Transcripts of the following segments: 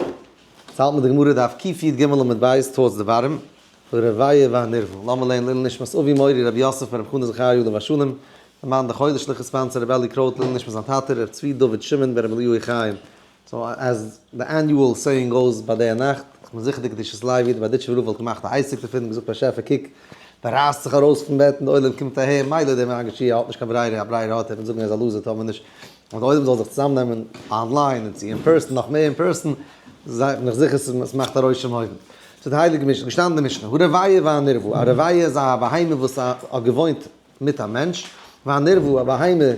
עס האלט מען די גמרא דף קיט יט ג עמוד ב' טעות דברים, הרוויה והנרווה, לאמר לעיל לעילוי נשמת אבי מורי רבי יוסף בן רבי חנא זכריה יודא משולם, אמן דחולי שליחות ספאנסער רבי אלי' קרויט לעילוי נשמת זיין טאטע רבי צבי דוד שמעון בן רבי אליהו חיים. סאו עז די עניועל סעיאינג גאוס ביי די נאכט איז מען זיכער די קדושת לוי די בארדיטשובער רב וואלט געמאכט א עסק דערפון און געזאגט באשעפער קוק מען רייסט זיך ארויס פון בעט און די עולם קומט אהער מילא דער מגי ש האט נישט קיין ברירה א ברירה האט ער פון זאגן ער איז א לוזער טאר מען נישט און די עולם זאל זיך צוזאם נעמען אנליין און צו אין פערסאן נאך מער אין פערסאן זיי בין איך זיכער עס מאכט א רושם אויבן צו די הייליגע משנה געשטאנען די משנה הרבייה והנרווה א רבייה איז א בהמה וואס האט געוואוינט מיט א מענטש והנרווה א בהמה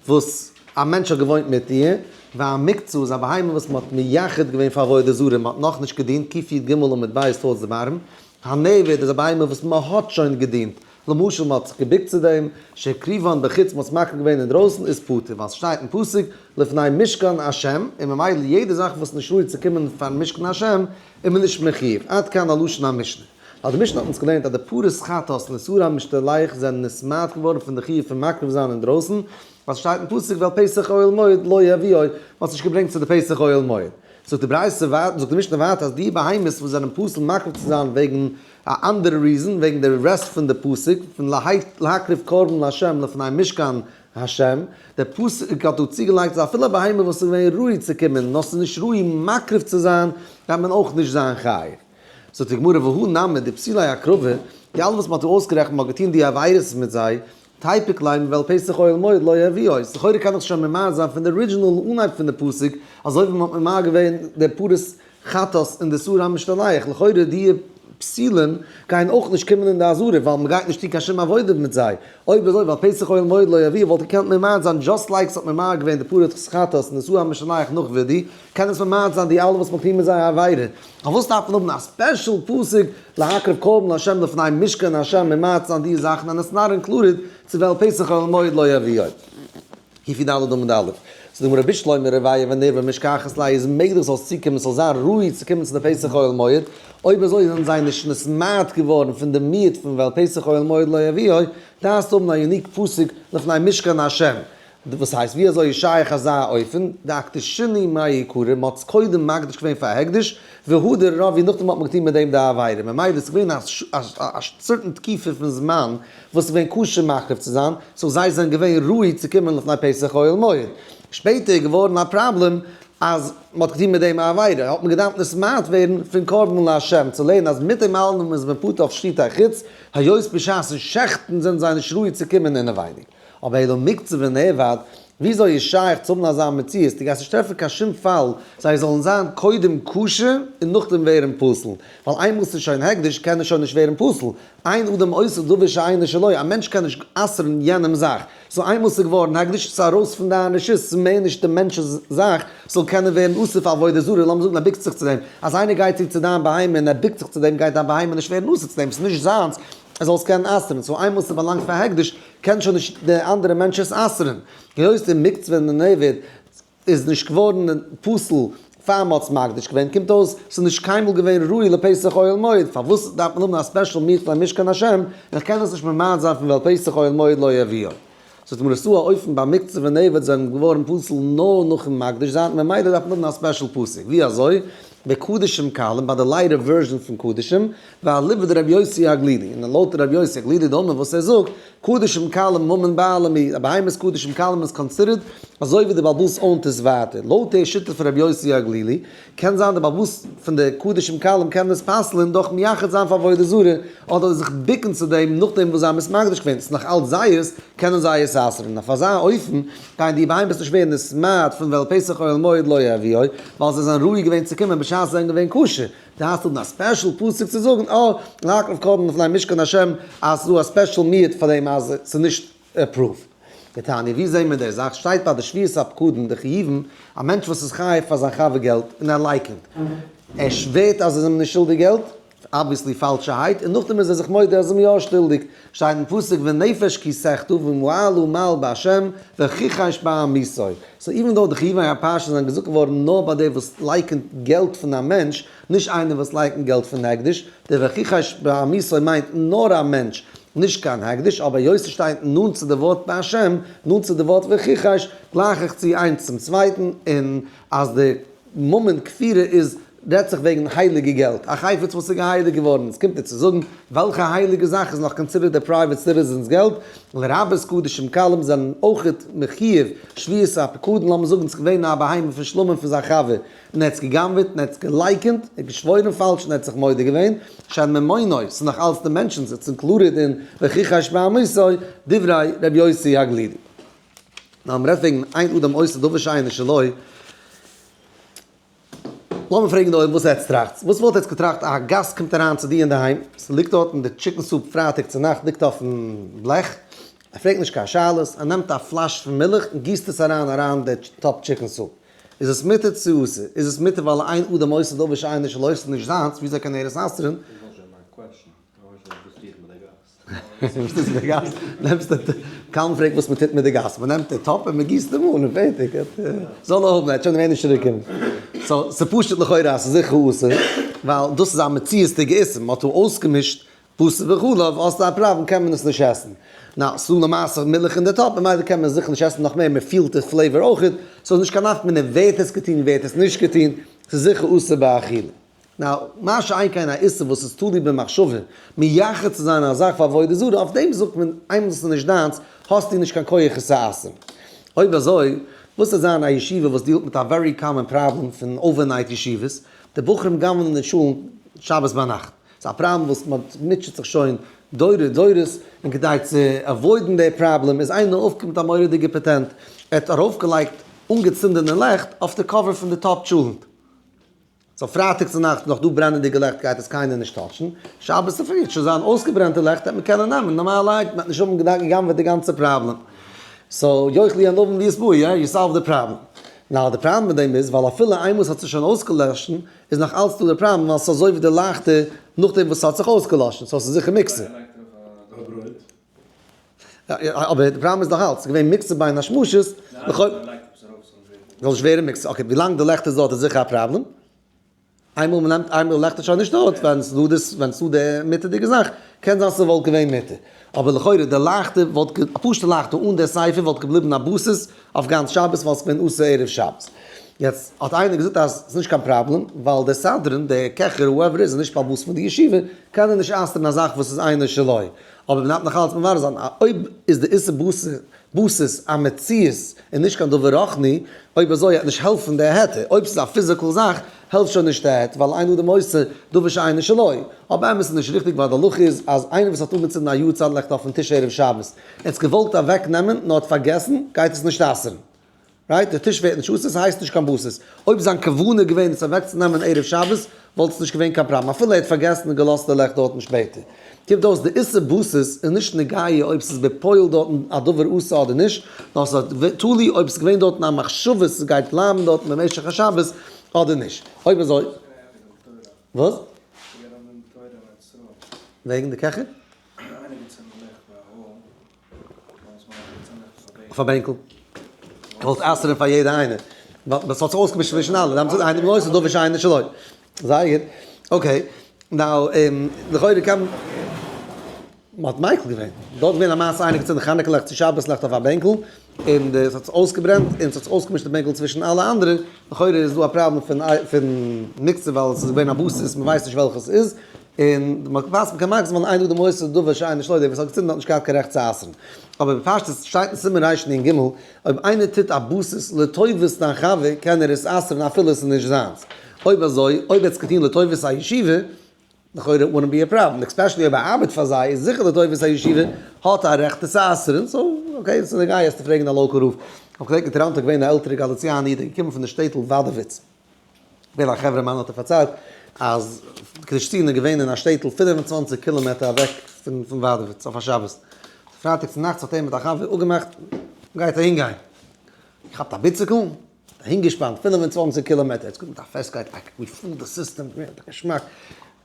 וואס א מענטש האט געוואוינט מיט איר והמקצה איז א בהמה וואס מ'האט מייחד געווען פאר עבודה זרה און מ'האט נאכנישט געדינט קיפי' ג' עמוד ב' ס' טז ב ר ם הנעווד איז א בהמה וואס מ'האט שוין געדינט למשל מען האט זיך געבוקט צו דעם, שהקריבון בחוץ מען האט עס מקריב געווען אינדרויסן איז פטור ווייל עס שטייט אין פסוק לפני משכן ה' און ממילא יעדע זאך וואס נישט ראוי צו קומען פארן משכן ה' איז מען נישט מחיוב, עד כאן א לשון המשנה. ווייל די משנה האט אונז געלערנט אז די פרות חטאת און איסור המשתלח זענען נשמט געווארן פון די חיוב פון מקריב זיין אינדרויסן ווייל עס שטייט אין פסוק ועל פסח אוהל מועד לא יביאו מען האט עס נישט געברענגט צו די פסח אוהל מועד. זאגט די ברייתא זאגט די משנה ווייטער אז די בהמות וואס זענען פסול מקריב צו זיין וועגן א אנדערע ריזען וועגן די רעסט פון די פסוק פון להקריב קרבן לה' לפני משכן ה', די פסוק האט דא צוגעלייגט אז אפילו א בהמה וואס איז געווען ראוי צו קומען נאר ס'איז נישט ראוי מקריב צו זיין דארף מען אויך נישט זיין חייב. זאגט די גמרא והא נמי די פסילי הקרבה, די אלע וואס מ'האט דא אויסגערעכנט מ'האט געטון די עבירות מיט זיי, טייפיק ליין ווייל פסח אוהל מועד לא יביא אויס, לכאורה קען דאך שוין ממעט זיין פון די ארידזשינעל אנהייב פון די פסוק, אזוי ווי מען האט ממעט געווען די פרות חטאת און די סור המשתלח, לכאורה די פסילים גייען אויך נישט קומען אין די אזהרה ווייל מען גייט נישט טון קיין שום עבודה מיט זיי, אויב אזוי ווייל פסח אוהל מועד לא יביא וואלט געקענט ממעט זיין דזשאסט לייק ס'האט ממעט געווען די פרות חטאת און די סור המשתלח נאך וידי, קען עס ממעט זיין די אלע וואס מען טוט מיט זיי א עבירה, פארוואס דארף מען האבן א ספעשל פסוק להקריב קרבן לה' לפני משכן ה' ממעט זיין די זאכן און עס נארן קלארער צו וועלן פסח אל המועד לא יביאו כי פי ד עמוד א' זאגט די גמרא רבי שלמה רביה ווען ער ווען משכחת ליה איז מעגליך זאלסט צוקומען ס'זאל זיין ראוי צו קומען צו די פסח אל המועד אויב אזוי זענען זיי נישט נסמעט געווארן פון די מיעוט פון וועלן פסח אל המועד לא יביאו דארפסט האבן א יוניק פסוק לפני משכן ה' וואס הייסט ווי אזוי איז שייך אזא אופן, דאקטער שני מאיר יקרים מען האט עס קודם מקדיש געווען פאר הקדש והדר רב און נאכדעם האט מען געטון מיט דעם די עבירה, ממילא עס איז געווען א סערטען תקופה פון זמן וואס עס איז געווען כשר מקריב צו זיין, סאו זיי זענען געווען ראוי צו קומען לפני פסח אוהל מועד, שפעטער איז געווארן א פראבלעם אז מען האט געטון מיט דעם א עבירה, האט מען געדארפט נסמאד ווערן פון קרבן לה' צו לערנען אז מיט דעם אלעם איז מען פטור אויף שחיטה חוץ היות בשעת'ן שעכטן זענען זיי נישט ראוי צו קומען אינעווייניג. אבער העי דא מקצה ונאבד, וויאזוי איז שייך צו האבן אזא מציאות? דו גייסט נישט טרעפן קיין שום פאל זיי זאלן זיין קודם כשר און נאכדעם ווערן פסול, ווייל איינמאל ס'איז שוין הקדש קען עס שוין נישט ווערן פסול, אין אדם אוסר דבר שאינו שלו, א מענטש קען נישט אסר'ן יענעמ'ס זאך, סאו איינמאל ס'איז געווארן הקדש איז ארויס פון דיין רשות, ס'איז מער נישט די מענטש'ס זאך ס'זאל קענען ווערן אסור פאר עבודה זרה, לאמיר זאגן ער בוקט זיך צו דעם, אז איינער גייט צו צו דיין בהמה און ער בוקט זיך צו דעם גייט דיין בהמה נישט ווערן אסור צו דעם, ס'איז נישט זיינס, ער זאל עס קענען אסר'ן, סאו איינמאל ס'באלאנגט פאר הקדש קען שוין נישט דער אנדערע מענטש עס אסר'ן, היות די מקץ ווען די נעבער איז נישט געווארן פסול פאר מען האט עס מקדיש געווען, קומט אויס ס'איז נישט קיינמאל געווען ראוי לפסח אוהל מועד, פארוואס דארף מען האבן א ספעשל מיכלא אין משכן השם, איך קען עס נישט ממעט זיין פון ווייל פסח אוהל מועד לא יביאו. זאת אומרת דא א אופן ביי מקצה ונעבד זענען געווארן פסול נאר נאכן מקדיש זיין ממילא דארף מען האבן א ספעשל פסק ווי אזוי ביי קדשים קלים ביי די לייטער ווערזשען פון קדשים ואליבא דרבי יוסי הגלילי און לויט רבי יוסי הגלילי דאמר וואס ער זאגט קדשים קלים ממון בעלי מ א בהמות קדשים קלים איז קאנסידערט אזוי ווי די בלבל'ס אנטעס ווייטער לויט די שיטה פון רבי יוסי הגלילי קען זיין די באוואוסט פון די קדשים קלים קען דאס פסל'ען דורך מייחד זיין פאר עבודה זרה אדער זיך ביקן צו דעם נאכדעם וואס זיי האבן עס מקדש געווען ס'איז נאך אלץ זייערס קענען זיי עס אסר'ן אויף אזא אופן גייען די בהמות נישט ווערן נשמד פון וועלט פסח אוהל מועד לא יביאו ווייל זיי זענען ראוי געווען צו קומען בשעת זיי זענען געווען כשר די הייסט האבן א ספעשל פסוק צו זאגן אוה להקריב קרבן לפני משכן השם אז ס'איז דא א ספעשל מיעוט פאר דעם אז ס'איז נישט עפראוו. די תניא, ווי זעהן מיר די זאך? שטייט ביי די שביעות הפקדון די חיובים, א מענטש וואס איז חייב פאר זיין חבר געלט און ער לייקענט, ער שווערט אז ער איז אים נישט שולדיג געלט, אבוויעסלי פאלשערהייט, און נאכדעם איז ער זיך מודה אז ער איז אים יא שולדיג, שטייט אין פסוק ונפש כי סחטו ומעל ומעל בהשם וכיחש בעם מיסוי, סאו איווען דאו די חיובי הפרשה זענען געזאגט געווארן נאר ביי די וואס לייקענט געלט פון א מענטש, נישט איינער וואס לייענט אין געלט פון הקדש, דער והכיחש בעמיסוי מיינט נאר א מענטש, נישט קיין הקדש, אבער היות עס שטייט נאנט צו די ווארט בהשם, נאנט צו די ווארט והכיחש, גלייך איך צו איינס צום צווייטן, און אז די מאמענט כפירה איז רעדט זיך וועגן הייליגע געלט, א חפץ וואס איז געהייליגט געווארן, און עס קומט דיר צו זאגן וועלכע הייליגע זאך איז נאך קאנסידערט די פרייוועט סיטיזענס געלט, לרבות קדשים קלים זענען אויך מחיוב שביעות הפקדון, לאמיר זאגן עס איז געווען א בהמה פון שלמה פון זיין חבר. און ער האט עס גע'גנב'עט און ער האט עס געלייקענט, ער האט געשוואוירן פאלש און ער האט זיך מודה געווען, שאין ממונו, ס'איז נאך אלץ די מענטשן זיצן קלארער דען וכיכי השמעמיסו דברי ר' יוסי הגלילי. נאר מ'רעדט וועגן איין אדם עושה דבר שאין איש עלוה. לאמיר פרעגן די עולם וואס עטץ טראכטס? וואס וואלט עטץ געטראכט אז א גאסט קומט אריין צו דיר אינדערהיים, ס'ליגט דארטן די טשיקן סופ פרייטאג צונאכט ליגט אויפן בלעך, ער פרעגט נישט קיין שאלות, ער נעמט א פלאש פון מילך און גיסט עס אריין אריין די טאפ טשיקן סופ, איז עס מותר צו אסור? איז עס מותר ווייל איין אדם עושה דבר שאין איש עושה איז נישט זיינס, וויאזוי קען ער עס אסר'ן? קאלם פרעגט וואס מ'טוט מיט די גאס, מ'נעמט די טאפ און מ'גיסט אים אן און פערטיג, זאל ער האבן, ער האט שוין געווען נישט רוקם. סאו ס'פשט לכאורה אז ס'איז זיכער אסור, ווייל דאס איז א מציאות'דיגע איסור, מ'האט אויסגעמישט בשר וחלב, האסטו א פראבלעם קען מען עס נישט עסן. נאו, סאו למעשה מילך אין די טאפ ממילא קען מען זיכער נישט עסן נאך מער, מען פילט די פלעיווער אויכעט, סאו איז נישט קיין נפק מ ווער האט עס געטון ווער האט עס נישט געטון, ס'איז זיכער אסור באכילה. נאו, מה שאין כן א איסור וואס איז תלוי במחשבה, מייחד צו זיין א זאך פאר עבודה זרה, אויף דעם זאגט מען איינמאל עס איז נישט דיינס האסטו נישט קיין כח עס צו אסר'ן. אויב אזוי, וואס וועט זיין א ישיבה וואס דיעלט מיט א ווערי קאמאן פראבלעם פון אווערנייט ישיבות, די בחורים גנב'נען די שולן שבת ביינאכט. ס'איז א פראבלעם וואס מען מוטשעט זיך שוין דורי דורות, און כדי צו עוואוידן די פראבלעם איז איינער אויפגעקומען מיט א מורא'דיגע פעטענט, ער האט ארויפגעלייגט אנגעצינדענע לעכט אויף די קאווער פון די טאפ טשולענט. סאו פרייטאג צו נאכטס נאך דא ברענענדיגע לעכט גייט עס קיינער נישט טאטשן, שבת צופרי וועט שוין זיין אויסגעברענטע לעכט וועט מען קענען נעמען נארמאלע לייט, מען וועט נישט האבן געדאנקען גע'גנב'עט די גאנצע פראבלעם. סאו יוכ לי ענובים לי אסבו י, יו סאלווד די פראבלעם. נאר די פראבלעם מיט דעם איז ווייל אפילו איינמאל ס'האט זיך שוין אויסגעלאשן, איז נאך אלץ דא די פראבלעם ווייל ס'איז אזוי ווי די לייכטע נאכדעם וואס ס'האט זיך אויסגעלאשן סאו ס'איז זיכער מוקצה. אבער די פראבלעם איז נאך אלץ געווען מוקצה ביי א שמשות לכאו'. זאל נישט ווערן מוקצה, אקעי ווילאנג די לעכט איז דארט איז זיכער א פראבלעם, איינמאל מ'נעמט איינמאל די לעכט איז שוין נישט דארט ווען ס'איז דא די מיטעדיגע זאך קען זיין ס'וואלט געווען מותר. אבער לכאורה די לייכטע וואלט ג א פשוטע לייכטע אן די סייפער וואלט געבליבן א בסיס אויף גאנץ שבת ווייל ס'איז געווען אסור ערב שבת. יעצט האט איינער געזאגט אז ס'איז נישט קיין פראבלעם ווייל דער סדרן, דער קעכער, הואעווער איז, איז נישט א באס פון די ישיבה, קען ער נישט אסר'ן א זאך וואס איז אינו שלו. אבער מ'דארף נאך אלץ מברר זיין אויב איז די איסור באס באסעס א מציאות און נישט קיין דבר רוחני, אויב אזוי העט נישט העלפן די היתר, אויב ס'איז א פיזיקעל זאך, העלפט שוין נישט העט ווייל איינער האט די מוסר דבר שאינו שנוי, אבער אמת איז נישט ריכטיג ווייל די הלכה איז אז איינער וואס האט אנגעצינדן א יארצייט לעכט אויפן טיש ערב שבת, ער האט עס געוואלט אוועק נעמען נאר האט פארגעסן גייט עס נישט אסר'ן, רייט? די טיש ווערט נישט אסור ס'הייסט נישט קיין בשר, אויב זיין כוונה איז געווען עס אוועק צו נעמען ערב שבת וואלט עס נישט געווען קיין פראבלעם אפילו ער האט פארגעסן און געלאזט די לעכט דארטן שפעטער. גיבט אויס די איסור באסס איז נישט נוגע אויב ס'איז בפועל דארטן א דבר אסור אדער נישט, נאר ס'איז תלוי אויב ס'איז געווען דארטן א מחשבה ס'גייט בלייבן דארטן במשך השבת אדער נישט, אויב אזוי וואס? וועגן די קעכער? אויף א בענקל. כ'וואלט אסר'ן פאר יעדע איינער. ווייל ס'האט זיך אויסגעמישט צווישן אלע. זיי האבן געזאגט איינער בנוסח דא ושאינו שלא. זייער גוט. אקעי. נאו, לכאורה קען מען. מ'האט מיקל געווען. דא איז געווען א מעשה איינער געצינדן חנוכה ליכט צו שבת ליכט אויף א בענקל. און די ס'האט זיך אויסגעברענט און ס'האט זיך אויסגעמישט די בענקל צווישן אלע אנדערע. לכאורה איז דא א פראבלעם פון פון מיקסער ווייל ס'איז געווען א באסוס מ'ווייסט נישט וועלכע ס'איז. און מען ווייסט מען קען מאכן זמן איין טאג די מוסר דבר שאין איש לא יודע, וואס האט געצינדן האט נישט געהאט קיין רעכט צו אסר'ן. אבער בפשטות שטייט אין סימן רש נ ג, אויב איינער טוט א באסס לטובת דיין חבר קען ער עס אסר'ן אפילו עס איז נישט זיינס. אויב אזוי, אויב ער האט עס געטון לטובת א ישיבה, לכאורה איט וואנט בי א פראבלעם, און עקספעשעלי אויב ער ארבעט פאר זיי איז זיכער לטובת א ישיבה האט ער א רעכט עס אסר'ן, סאו אקעי עס איז נוגע עס צו פרעגן א לאקעל רב. איך האב געדענקט אינטערהאנט א געווען א עלטערע גאליציאנע איד א געקומען פון די שטעטל וואדעוויץ. ווער א חברה מיינע האט ער פארציילט אז קרישטין איז געווען אין א שטעטל פֿינף און צוואַנציק קילאמעטער אוועק פון פון וואדעוויץ אויף א שבת פרייטאג צו נאכטס האט ער מיט א חבר אפגעמאכט גייט אהין גיין געכאפט א ביציקל אהין געשפאנט פֿינף און צוואַנציק קילאמעטער עטס קוקט מיט א פעסטקייט אק ווי פול די סיסטעם געווען א געשמאק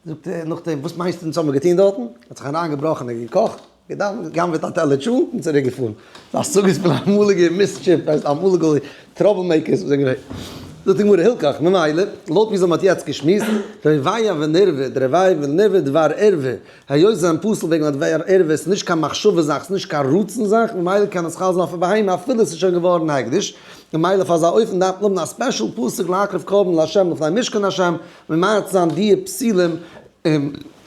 זאגט ער נאכדעם וואס מיינסטו אונז האמער געטוהן דארטן ער האט זיך אריין געבראכן און געקאכט. געדאוונט, גנב'עט א טעלער טשולנט און צוריק געפארן. די השגות פון אמאליגע מיסטשיף ווייסט אמאליגע טראבל מעיקערס וואס זענען געווען. זאגט די גמרא הילקח, ממילא, לויט ווי זיי האבן יעצט געשמועסט, רביה ונרווה, די רביה ונרווה דבר ערווה, היות זיי זענען פסול וועגן א דבר ערווה, עס איז נישט קיין מחשבה זאך, עס איז נישט קיין רצון זאך, ממילא קען עס חל זיין אויף א בהמה אפילו עס איז שוין געווארן הקדש, ממילא אויף אזא אופן דארף מען האבן א ספעשל פסוק להקריב קרבן לה' לפני משכן השם, ממעט זיין דיע פסילים.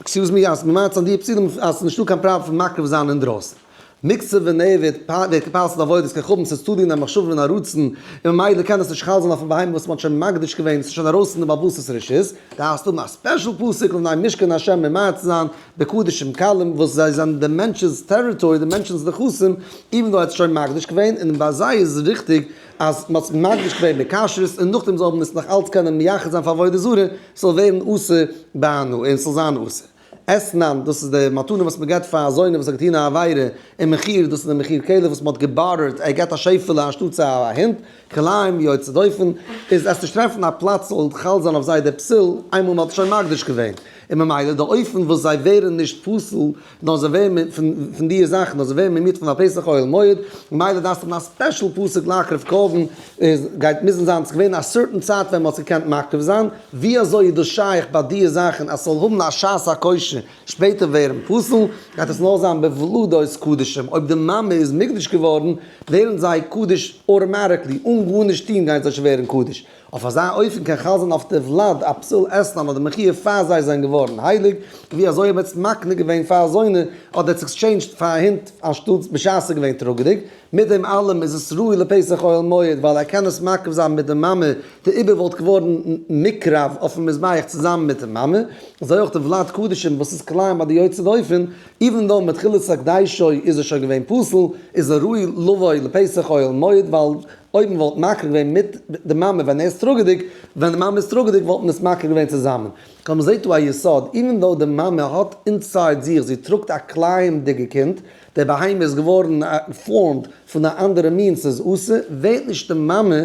עקסיוז מי, אז מ'מאכט זיין דיעט פסולים אז ס'איז נישטא קיין פראבלעם פון מקריב זיין אינדרויסן. מקצה ונעבד, ווער כ'פאסט די עבודות ככבים ס'איז תלוי אין א מחשבה און א רצון, און ממילא קען עס נישט חל זיין אויפן בהמה וואס מ'האט שוין מקדיש געווען, ס'איז שוין ארויס פון די בעלות'ס רשות. דארפסט האבן א ספעשל פסוק לבני' משכן ה' און מעריץ זיין די קדשים קלים וואס זיי זענען די מענטש'ס טעריטארי, די מענטש'ס נכסים, איווען דאו ער האט עס שוין מקדיש געווען, און ביי זיי איז ריכטיג, אז מען האט מקדיש געווען מיט כשרות און נאכדעם זאל מען עס נאך אלץ קענען מייחד זיין פאר עבודה זרה, ס'זאל ווערן אסור ביינאר און ס'זאל זיין אסור עסנן, דאס איז די מתנה וואס מען געבט פאר אזוינער וואס האט געטון א עבירה און מכיר, דאס איז די מכיר כלב וואס מען האט געבארערט, ער געט א שעפעלע אנשטאט צו א הונט, כלאיים יוצא דופן, איז עס נישט טרעפן א פלאץ ס'זאל חל זיין אויף זיי דער פסול, איינמאל מען האט עס שוין מקדיש געווען, און ממילא די אופן וואס זיי ווערן נישט פסול, נאר זיי ווערן מ פ פון דיע זאכן, נאר זיי ווערן ממית' פון א פסח אוהל מועד, ממילא דארפסטו האבן א ספעשל פסוק להקריב קרבן, עס גייט מוזן זיין ס'איז געווען א סערטען צייט ווען מ'האט עס געקענט מקריב זיין, ווי אזוי איז דאס שייך ביי דיע זאכן אז ס'זאל האבן א שעת הכושר, שפעטער ווערן פסול, גייט עס נאר זיין בוולדות קדשים, אויב די מאמע איז מקדש געווארן, ווערן זיי קדוש אוטאמאטיקלי, אן גארנישט טון גייען זיי שוין ווערן קדוש. אויף אזא אופן קען חל זיין אויף די וולד א פסול עסן אן אדער מחי' פאר זיי זענען געווארן הייליג, ווי אזוי אויב עטס מקנה געווען פאר אזוינע האט דער עקסטשעינדזשד פאר א הונט אנשטאטס בשעת ס'איז געווען טראגעדיג, מיט דעם אלעם איז עס ראוי לפסח אוהל מועד ווייל ער קען עס מקריב זיין מיט די מאמע, די איבר וואלט געווארן נקרב אויפן מזבח צוזאמען מיט די מאמע, אזוי אויך די וולד קדשים וואס איז קליין ביי די יוצא דופן, איווען דאו מתחילת הקדשו איז ער שוין געווען פסול, איז ער ראוי לבוא לפסח אוהל מועד ווייל. אויב מען וואלט מקריב געווען מיט די מאמע ווען ער איז טראגעדיג, ווען די מאמע איז טראגעדיג וואלט מען עס מקריב געווען צוזאמען. כלומר מען זעט דא א יסוד, איווען דאו די מאמע האט אינסייד זיך, זי טראגט א קלייענדיגע קינד, דער בהמה איז געווארן פארמד פון א אנדערע מין ס'איז אסור, ווערט נישט די מאמע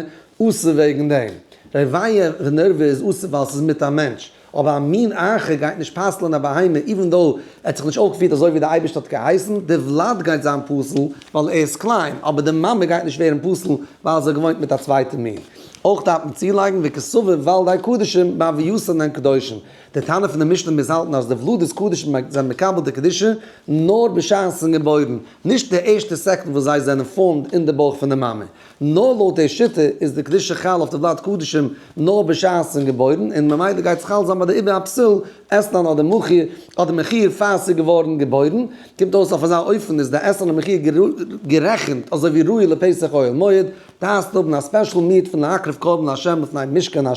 אסור וועגן דעם. רבייה ונרווה איז אסור ווייל ס'איז מיט א מענטש. אבער א מין אחר גייט נישט פסל'ען א בהמה איווען דאו ער האט זיך נישט אויפגעפירט אזוי ווי די אייבערשטער האט געהייסן, די וולד גייט זיין פסול ווייל ער איז קליין, אבער די מאמע גייט נישט ווערן פסול ווייל זי האט געוואוינט מיט א צווייטע מין. אויך דארף מען צולייגן וכסבר וולדי קדשים באביותן אינן קדושים, די טענה פון די משנה מוז האלטן אז די וולדות קדשים זענען מקבל די קדושה נאר בשעת זיי זענען געבוירן, נישט די ערשטע סעקונד וואס זיי זענען פארמד אין די בויך פון די מאמע, נאר לויט די שיטה איז די קדושה חל אויף די בלאט קדשים נאר בשעת ס'איז געבוירן און ממילא גייט עס חל זיין ביי די עיבור הפסול אסלאן אדער מחי' אדער מחי' פאר ס'איז געווארן געבוירן, קומט אויס אויף אזא אופן איז די אסלאן און מחי' גערעכנט אזוי ווי ראי' לפסח אוהל מועד, דארפסט האבן א ספעשל מיעוט פון להקריב קרבן לה' לפני משכן ה'.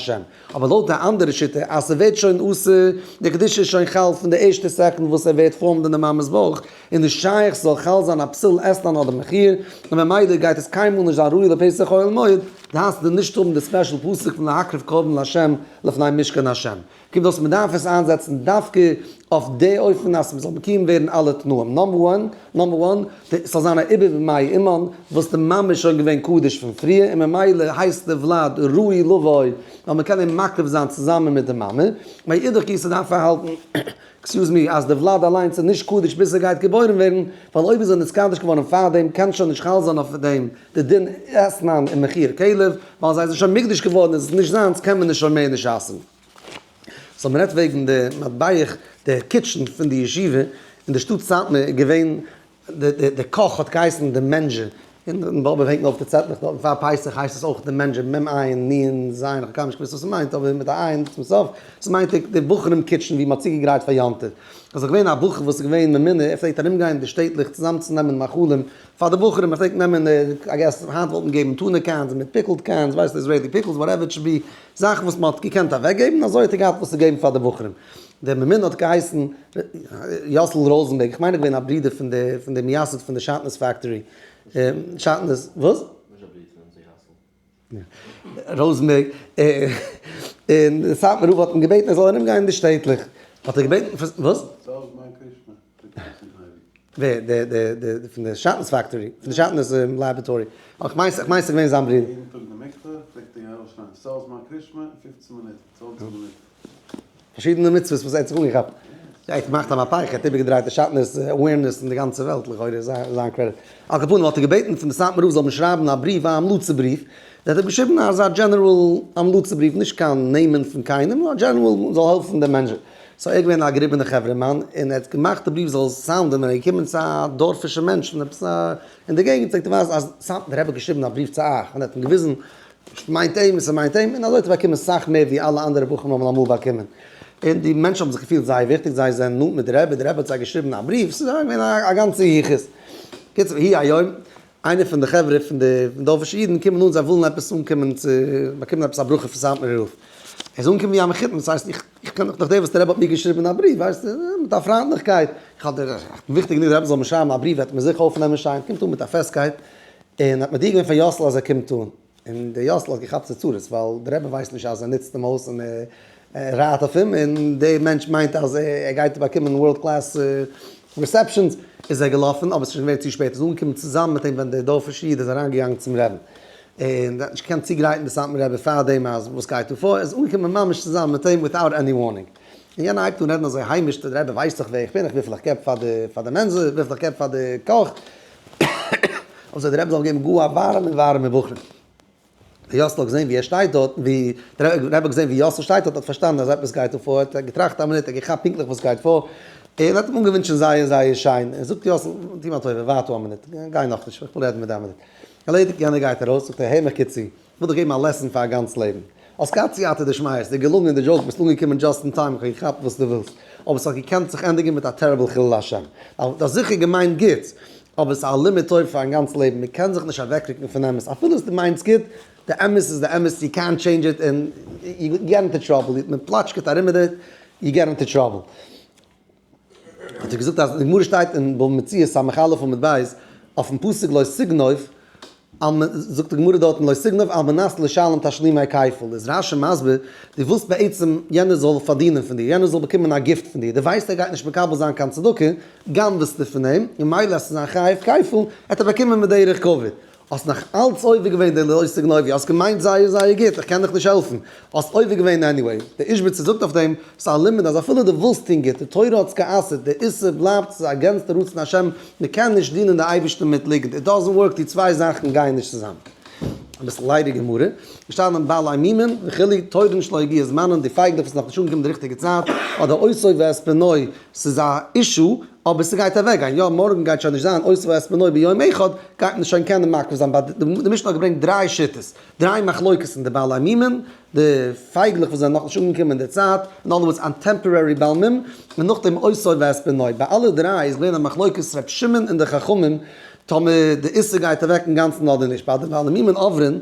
אבער לויט די אנדערע שיטה אז ס'ווערט שוין אסור, די קדושה איז שוין חל פון די ערשטע סעקונד וואס ער ווערט פארמד אין די מאמע'ס בויך, איז נישט שייך ס'זאל חל זיין א פסול עסן אן אדם מכיר, און ממילא גייט עס קיינמאל נישט זיין ראוי לפסח אוהל מועד, דאס די נישט האבן די ספעשל פסוק פון להקריב קרבן להשם לפני משכן השם, קומט אויס מ'דארף עס איינזעצן דווקא אויף די אופן אז ס'זאל מקויים ווערן אלע תנאים, נאמבער וואן. נאמבער וואן, ס'זאל זיין א עיבור במאי אומאן, וואס די מאמע איז שוין געווען קדוש פון פריער, און ממילא הייסט די וולד ראוי לבוי, ווייל מ'קען אים מקריב זיין צוזאמען מיט די מאמע. מאידך גיסא דארף מען האלטן, עקסיוז מי, אז די וולד אליינס איז נישט קדוש ביז ער גייט געבוירן ווערן, ווייל אויב איז ער נתקדש געווארן פארדעם קען שוין נישט חל זיין אויף דעם די דין עסנן און מחי' כלב, ווייל זיי זענען שוין מקדש געווארן, איז עס נישט זיינס קען מען עס שוין מער נישט עסן. ס'האט מ'רעדט וועגן די מטבח, די קיטשען פון די ישיבה אין די שטאט סאטמאר איז געווען די די קאך האט געהייסן די מענדזשער אין די באבוב הענגן אויף די צעטלעך דארטן פאר פסח הייסט עס אויך די מענדזשער מ ע נ ז ע נ איך האב קיינמאל נישט געוואוסט וואס עס מיינט אבער מיט א עין צום סוף עס מיינט די בחורים קיטשען ווי מ'האט צוגעגרייט פאר יום טוב איז דאך געווען א בחור וואס איז געווען ממונה ער פלעגט ארום גיין אין די שטעטלעך צוזאם צו נעמען מאכלים פאר די בחורים ער פלעגט נעמען די א געס היינט וואלט מען געגעבן טונא קענס מיט פיקעלד קענס ווייסט איזרעילי פיקעלס וואטעווער איט שוד בי. זאכן וואס מען האט געקענט אוועקגעבן אזוי האט ער געהאט וואס צו געבן פאר די בחורים, דער ממונה האט געהייסן יאסל ראזענבערג, איך מיין ער איז געווען א ברודער פון די פון די מייסד פון די שעטנז פעקטארי, שעטנז וואס? ראזענבערג, און די סאטמאר רב האט אים געבעטן ער זאל ארומגיין אין די שטעטלעך, האט ער געבעטן, וואס? ווער? דער דער פון די שאטנס פעקטארי? פון די שאטנס לעבעטארי? איך מיין ס'איז געווען זיין ברודער. יעדן טאג אין די מקווה פלעגט ער ארויס שטיין סאלזמאן קרישמע אין פופצן מינוט, צוואנציג מינוט. פארשידענע מצוות וואס ער האט זיך אנגעכאפט. יא ער האט געמאכט א מהפך, ער האט איבערגעדרייט די שאטנס אווערנעס אין די גאנצע וועלט, לכאורה איז זיין קרעדיט. על כל פנים האט ער געבעטן פון די סאטמאר רב זאל אים שרייבן א בריוו א המלצה בריוו, ווי ער האט געשריבן אזא דזשענעראל המלצה בריוו נישט קיין נעמען פון קיינעם נאר א דזשענעראל זאל העלפן די מענטשן. סא ער איז געווען א געריבענע חברה'מאן און ער האט געמאכט די בריוו זאל סאונדען ווען ער איז געקומען צו א דארפישע מענטש פון עפעס א אין די געגענט זאגט ער ווייז אז סא דער רבי האט געשריבן א בריוו צו אייך און ער האט אים געוויזן מיינט אים און ס'מיינט אים און אזוי האט ער באקומען סאך מער ווי אלע אנדערע בחורים האבן אמאל באקומען און די מענטשן האבן זיך געפילט זייער וויכטיג זיי זענען נאנט מיט די רבי די רבי האט זיי געשריבן א בריוו ס'איז געווען א גאנצע יחוס קיצור היי היום איינער פון די חברה פון די דארפישע אידן קומען אן זיי ווילן עפעס אנקומען צו באקומען עפעס א ברכה פון סאטמארער רב, ער זאל אנקומען ווי א מחותן, דאס הייסט איך איך קען דאך דאך דער וואס דער רבי האט מיר געשריבן אין א בריוו ווייסט מיט א פריינטליכקייט, איך האב דיר וויכטיג גענוג דער רבי זאל מיר שרייבן א בריוו וועט מען זיכער אויפנעמען שיין קומט אן מיט א פעסטקייט, און האט מודיע געווען פאר יאסל אז ער קומט אן. און דער יאסל האט געכאפט צרצרות ווייל דער רבי ווייסט נישט אז ער נוצט אים אויס און ער רייט אויף אים און דער מענטש מיינט אז ער גייט באקומען ווארלד קלעס ריסעפשאנס, איז ער געלאפן אבער עס איז שוין געווען צו שפעט, ער איז אנגעקומען צוזאמען מיט אים ווען דער דארפישער איד איז אריינגעגאנגען צום רעבן און ער האט נישט געקענט צוגרייטן די סאטמאר רבי פאר דעם אז וואס גייט דא פאר, ער איז אנגעקומען ממש צוזאמען מיט אים וויטאוט עני ווארנינג און יענער הייבט אן רעדן אזוי היימיש, דער רבי ווייסט דאך ווער איך בין, איך וויפיל איך געב פאר די מענזע, וויפיל איך געב פאר די קאך. און זיי די רבי זאל געבן גאר א ווארעמע ווארעמע בחור. ווי יאסל האט געזען ווי ער שטייט דארט, ווי די רבי האט געזען ווי יאסל שטייט דארט האט פארשטאנען אז עפעס גייט דא פאר, האט ער געטראכט א מינוט, ער האט געכאפט פונקטליך וואס גייט פאר, און האט אים אנגעווינטשן זייער זייער שיין, ער זאגט יאסל, טו מיר א טובה, ווארט דא א מינוט, גיי נאכנישט, איך וויל רעדן מיט דיר א מינוט. ערלעדיגט, יענער גייט ארויס, זאגט ער, הער מיך גוט צו. כ'וועל דיך געבן א לעסן פאר א גאנץ לעבן. האסט געהאט סייעתא דשמיא, ס'איז דיר געלונגען, די דזשאוק ביסט אנגעקומען דזשאסט אין טיים, כ'האב געכאפט וואס דו ווילסט, אבער ס'האט געקענט זיך ענדיגן מיט א טעריבל חילול השם. א, דו האסט זיכער געמיינט גוטס, אבער ס'איז א לימוד תורה פארן גאנץ לעבן, מ'קען זיך נישט אוועקרוקן פון אמת, אפילו אז דו מיינסט גוט, די אמת איז די אמת, יו קענט טשעינדזש איט, און יו געט אינטו טראבל, מ'פלאטשקעט ארום מיט דיר, יו געט אינטו טראבל. האט ער געזאגט אז די גמרא שטייט אין בבא מציעא ס' עמוד א' עמוד ב' אויפן פסוק לא סגנוב, זאגט די גמרא דארטן לא סגנוב על מנת לשלם תשלימי כפל, איז רשי מסביר, דו ווילסט בעצם יענער זאל פארדינען פון דיר, יענער זאל באקומען א גיפט פון דיר, דו ווייסט ער גייט נישט מקבל זיין קיין צדקה, גנב'סטו פון אים, ממילא אז ס'איז זיין חייב כפל, העט ער באקומען בדרך כבוד, האסט נאך אלץ עובר געווען די לוי'סטע גנויב'י, האסט געמיינט זייער זייער גוט, איך קען דיך נישט העלפן, האסט עובר געווען עניוועי, די איזשביצער זאגט אויף דעם, ס'איז א לימוד אז אפילו די ווילסט טון גוט, די תורה האט'ס גע'אסר'ט, די איסור בלייבט, ס'איז אגענסט די רצון השם, מ'קען נישט דינען די אייבערשטן מיט ליגנט, איט דאזענט ווארק, די צוויי זאכן גייען נישט צוזאם. אביסל ליידיג גמרא, געשטאנען בעלי ענינים וכו', תורה נישט להגיע זמנן, די פייגלעך וואס איז נאך נישט אנגעקומען די ריכטיגע צייט, אדער אויסויב ועספנוי, ס'איז א אישו, אבער ס'גייט אוועקגיין, יא מארגן גייט שוין נישט זיין עושה ועשמנוי ביום אחד, גייט מען שוין קענען מקריב זיין, די משנה האט געברענגט דריי שיטות, דריי מחלוקת אין די בעלי מימון, די פייגלעך וואס זענען נאכנישט אנגעקומען אין די צייט, אין אנדערע ווארט אן טעמפארערי בעל מום, און נאכדעם עושה ועשמנוי, ביי אלע דריי איז געווען א מחלוקת ר' שמעון און די חכמים טאמער די איסור גייט אוועק אינגאנצן אדער נישט, ביי די בעלי מימון אויף ר ת.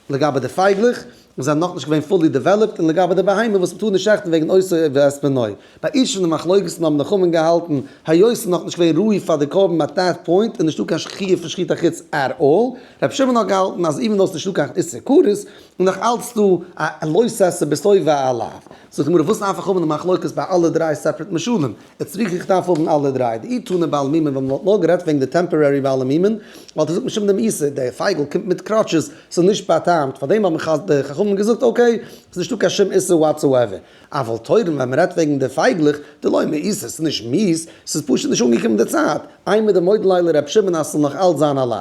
לגבי די פייגלעך, זיי זענען נאכנישט געווען פולי דעוועלאפט, און לגבי די בהמה וואס מ'טאר נישט שעכטן וועגן עושה ואת בנו. ביי אישור די מחלוקת'ן האבן די חכמים געהאלטן היות ס'איז נאכנישט געווען ראוי פאר די קרבן אט דעט פוינט איז נישטא קיין חיוב פון שחיטה חוץ ער אל. רבי שמעון האט געהאלטן אז איווען דאו ס'איז נישטא קיין איסור כרת איז נאך אלץ דא א לא ששה בשובעה עליו. זאגט די גמרא וואס נפק ח מ די מחלוקת ביי אלע דריי סעפרעט משלים? איצט זוך איך דארף האבן אלע דריי. די אי טונא בעל מימון ווען מען וואלט נאר גערעדט וועגן די טעמפארערי בעלי מימון וואלט איך געזאגט משום דעם איסור, דער פייגל קומט מיט קראטשעס, ס'איז נישט באטאמט, פארדעם האבן חז ל די חכמים געזאגט אקעי, ס'איז נישטא קיין שום איסור וואטסאועווער. אבל תורם ווען מען רעדט וועגן די פייגלעך, די לא מאיסור, ס'איז נישט מיס, ס'איז פשוט נישט אנגעקומען די צייט. איי מיט די מודל ליילער ר' שמעון אז ס'זאל נאך אלץ זיין א לאו.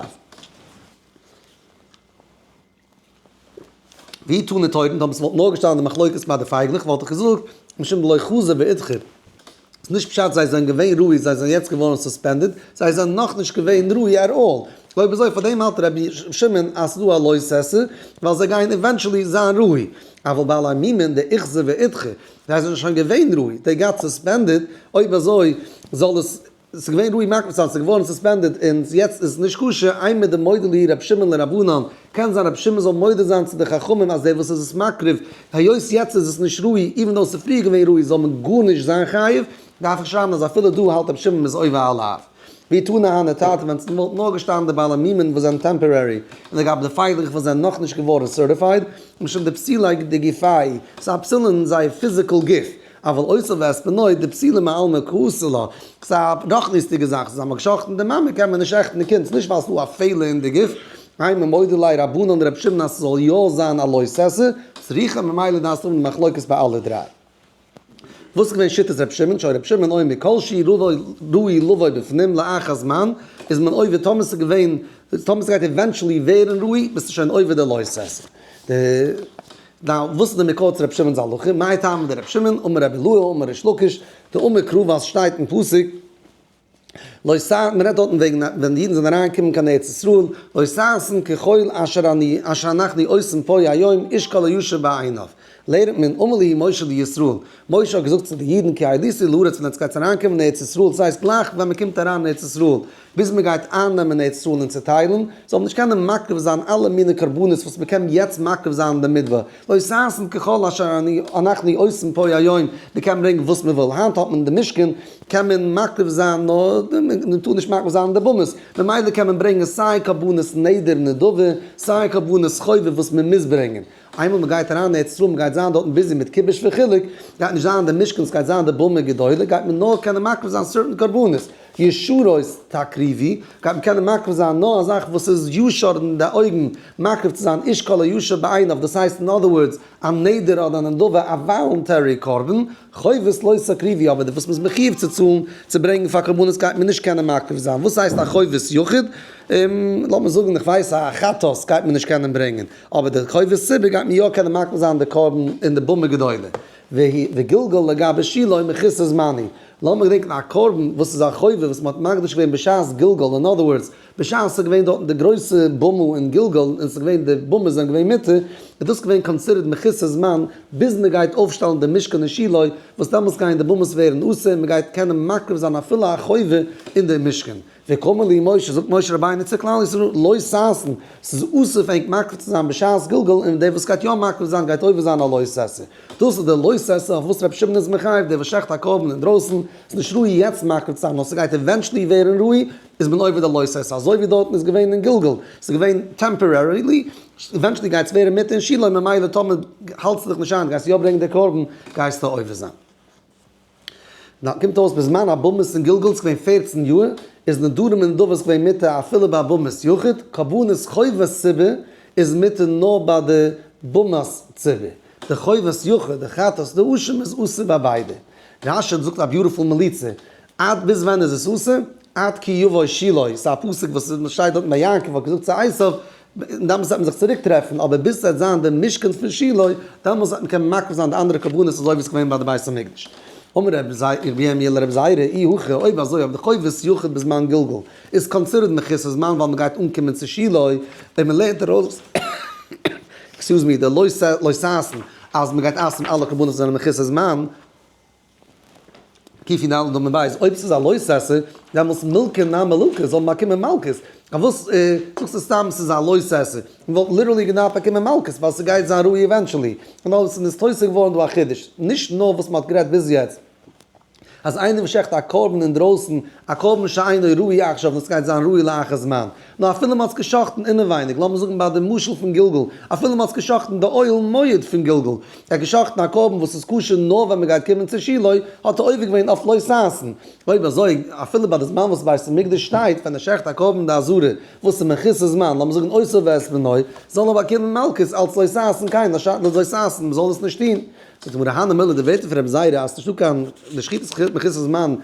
ווי טאָן די טויבן, טאָמער ס'וואָלט נאָר געשטאַנען די מחלוקת בײַ די פֿייגלעך, וואָלט איך געזאָגט, משום דלא חזי ואידחר, ס'איז נישט פּשט זיי זענען געווען ראוי, זיי זענען יעצט געוואָרן סוספּענדעד, זיי זענען נאָך נישט געווען ראוי עט אָל. אויב אַזוי, פֿאַר דעם האַלט רבי שמעון אַז ס'איז דאָ אַ לויז סעסע, ווײַל זיי גייען עווענטשעלי זײַן ראוי. אַוואָל בעלי מימון די איכזע ואידחר, זיי זענען שוין געווען ראוי, דעי גאָט סוספּענדעד, אויב אַזוי זאָל עס ס'איז געווען רועי מאכמעס אז ס'איז געווארן סוספענדעד און יעצט איז עס נישט כשר, איין מיט די מודה לי ר' שמעון לרבנן, קען זיין ר' שמעון זאל מודה זיין צו די חכמים אז דער וואס איז עס מקריב, היות יעצט איז עס נישט רועי, איווען דאו עס איז פריער געווען רועי זאל מען גארנישט זיין חייב, דארף איך שרייבן אז אפילו דא האלט ר' שמעון מ'איז עובר עליו. ווי טענה האנע טארט ווען ס' וואלט נאר געשטאנען די בעלי מימון וואס זענען טעמפארערי, און לגבי די פייגלעך וואס זענען נאך נישט געווארן סערטיפייד, משום די פסילה דגופי, ס'א פסילה אין זייער פיזיקעל גוף. אבל אויסער וועספען אויב די פסילה מעלמא כעסו לה, ס'איז א רחניות'דיגע זאך, ס'איז אמאל גע'שחט'ן די מאמע קען מען נישט שעכטן די קינד, ס'איז נישט ווייל ס'איז דא א פעלער אין די גוף, איי ממודו ליה רבנן ר' שמעון אז ס'זאל יא זיין א לא עשה צריכה ממילא דארפסטו האבן די מחלוקת ביי אלע דריי. וואס איז געווען שיטת ר' שמעון, שוין ר' שמעון אומר כל שהיא ראוי לבוא בפנים לאחר הזמן איז מען עובר טאמער ס'איז געווען טאמער ס'גייט עווענטשעלי ווערן ראוי ביסטו שוין עובר די לא עשה די דיין וואס איז די מקור צו רבי שמעון'ס הלכה? מאי טעמא דרבי שמעון אמר רבי אלעא אמר ריש לקיש, די אמר קרוב אז שטייט אין פסוק לא ס ה, מען רעדט דארטן וועגן ווען די אידן זענען אריין געקומען קיין ארץ ישראל, לא ששון ככל אשר אני אשר אנחנו עושים פה היום איש כל היושב בעיניו, לערנט מען אמר ליהי משה לישראל, משה האט געזאגט צו די אידן כי עליתי לארץ ווען עטס גייטס אריין קומען אין ארץ ישראל, ס'הייסט גלייך ווען מען קומט אריין אין ארץ ישראל, ביז מען גייט אייננעמען ארץ ישראל און צוטיילן, זאל מען נישט קענען מקריב זיין אלע מיני קרבנות וואס מען קען יעצט מקריב זיין אין די מדבר, לא ששון ככל אשר אנחנו עושים פה היום, מען קען ברענגען וואס מען וויל, היינט האט מען אין די משכן קען מען מקריב זיין נאר, מען טאר נישט מקריב זיין די בהמות, ממילא קען מען ברענגען סיי קרבנות נדר נדבה, סיי קרבנות חובה וואס מען מוז ברענגען, איינמאל מען גייט אריין ארץ ישראל מען גייט זיין דארטן ביזי מיט כיבוש וחילוק, גייט נישט זיין די משכן עס גייט זיין די במה גדולה, גייט מען נאר קענען מקריב זיין סערטען קרבנות. ישרות תקריבי, גייט מען קענען מקריב זיין נאר א זאך וואס איז ישר אין די אויגן, מקריב צו זיין איש כל הישר בעיניו, דאס הייסט אין אדער ווארדס, א נדר אדער א נדבה, א וואלונטערי קרבן, חובות לא תקריבי, אבער די וואס מען איז מחיוב צו צאלן צו ברענגן פאר קרבנות גייט מען נישט קענען מקריב זיין, וואס הייסט א חובות יחיד? לאמיר זאגן איך ווייס א חטאת גייט מען נישט קענען ברענגען, אבער די חובות ציבור גייט מען יא קענען מקריב זיין די קרבן אין די במה גדולה. והיא, וגלגל לגבי שילה מכיסא זמני. לאמיר געדענקן א קרבן וואס איז א חובה וואס מען האט מקדיש געווען בשעת גלגול, אין אדער ווארדס, בשעת ס'איז געווען דארטן די גרויסע במה אין גלגול, און ס'איז געווען די במות זענען געווען מיתה, איז דאס געווען קאנסידערט מכיסא זמן, ביז מען גייט אויפשטעלן די משכן אין שילה, וואס דעמאלטס גייען די במות ווערן אסור, און מען גייט קענען מקריב זיין אפילו א חובה אין די משכן. וקמא ליה משה, זאגט משה רבינו צו כלל ישראל, לא ששון, ס'איז אסור פאר ענק מקריב צו זיין בשעת גלגול, און דער וואס גייט יא מקריב זיין גייט עובר זיין א לא ששון. דאס איז דער לא ששון אויף וואס רבי שמעון איז מחייב, דער וואס שעכט א קרבן אינדרויסן, איז נישט ראוי יעצט מקריב צו זיין, נאר ס'גייט עווענטשלי ווערן ראוי, איז מען עובר דער לא ששון, אזוי ווי דארטן איז געווען אין גלגול, ס'איז געווען טעמפארערילי, עווענטשלי גייט עס ווערן מיתה אין שילה, ממילא טאמער האלטסטו דיך נישט איין, גייסט יא ברענגען דער קרבן, גייסטו עובר זיין. נאר קומט אויס בזמן הבמות אין גלגול צו געווען פֿערצן יאר איז נדרים און נדבות געווען מותר אפילו ביי במות יחיד, קרבנות חובת ציבור איז מותר נאר ביי די במות ציבור, די חובת יחיד, די חטאת די אשם איז אסור ביי ביידע. רשד זאגט א ביוטיפול מליצה, עד ביז ווען איז עס אסור? עד כי יבוא שילוי, ס'איז א פסוק וואס מ'שטייט דארט ביי יעקב האט געזאגט צו עשיו, און דאמאלס וועט מען זיך צוריק טרעפן, אבער ביז ס'וועט זיין די משכן פון שילה, דאמאלס וועט מען קענען מקריב זיין די אנדערע קרבנות אזוי ווי עס איז געווען ביי די בית המקדש. אמר ר' ירמי' אל ר' זעירא, אי הכי, אויב אזוי אויב די חובות יחוד בזמן גלגול איז קאנסידערט מכסות זמן ווייל מען גייט אנקומען צו שילה, און מען לערנט ארויס עקסקיוז מי די לוי' סייסן אז מען גייט אסר'ן אלע קרבנות וואס זענען מכסות זמן, כפי נלמד דא מבית אויב ס'איז א לוי' ססר דעמאלטס מלכא נמי ללקה זאל באקומען מלקות פארוואס זאגסטו סתם ס'איז א לוי' ססר מ'וואלט ליטערלי געדארפט באקומען מלקות ווייל ס'גייט זיין ראי' עווענטשעלי און אויב ס'איז נסתוסף געווארן דא א חידוש נישט נאר וואס מ'האט גערעדט ביז יעצט אז איינער וואס שעכט א קרבן אינדרויסן א קרבן שאינו ראוי עכשיו און ס'גייט זיין ראי' לאחר זמן. נאר אפילו מ'האט עס גע'שחט'ן אינעווייניג, לאמיר זאגן ביי די משל פון גלגול, אפילו מ'האט עס גע'שחט'ן די אוהל מועד פון גלגול, ער האט גע'שחט'ן א קרבן וואס איז כשר נאר ווען מ'גייט קומען צו שילה, האט ער עובר געווען אויף לא ששון. אויב אזוי, אפילו ביי די זמן וואס בית המקדש שטייט, ווען ער שחט א קרבן די עזרה, וואס איז מכסה זמן, לאמיר זאגן אויסער ווערס מינוי, זאל ער באקומען מלקות אלץ לא ששון קיין לא ששון, מ'זאל דאס נישט טון. זאגט די גמרא, הא נמילא די ווערטער פון רבי זיירא אז ס'נישטא קיין, די שחיטה איז מכסה זמן,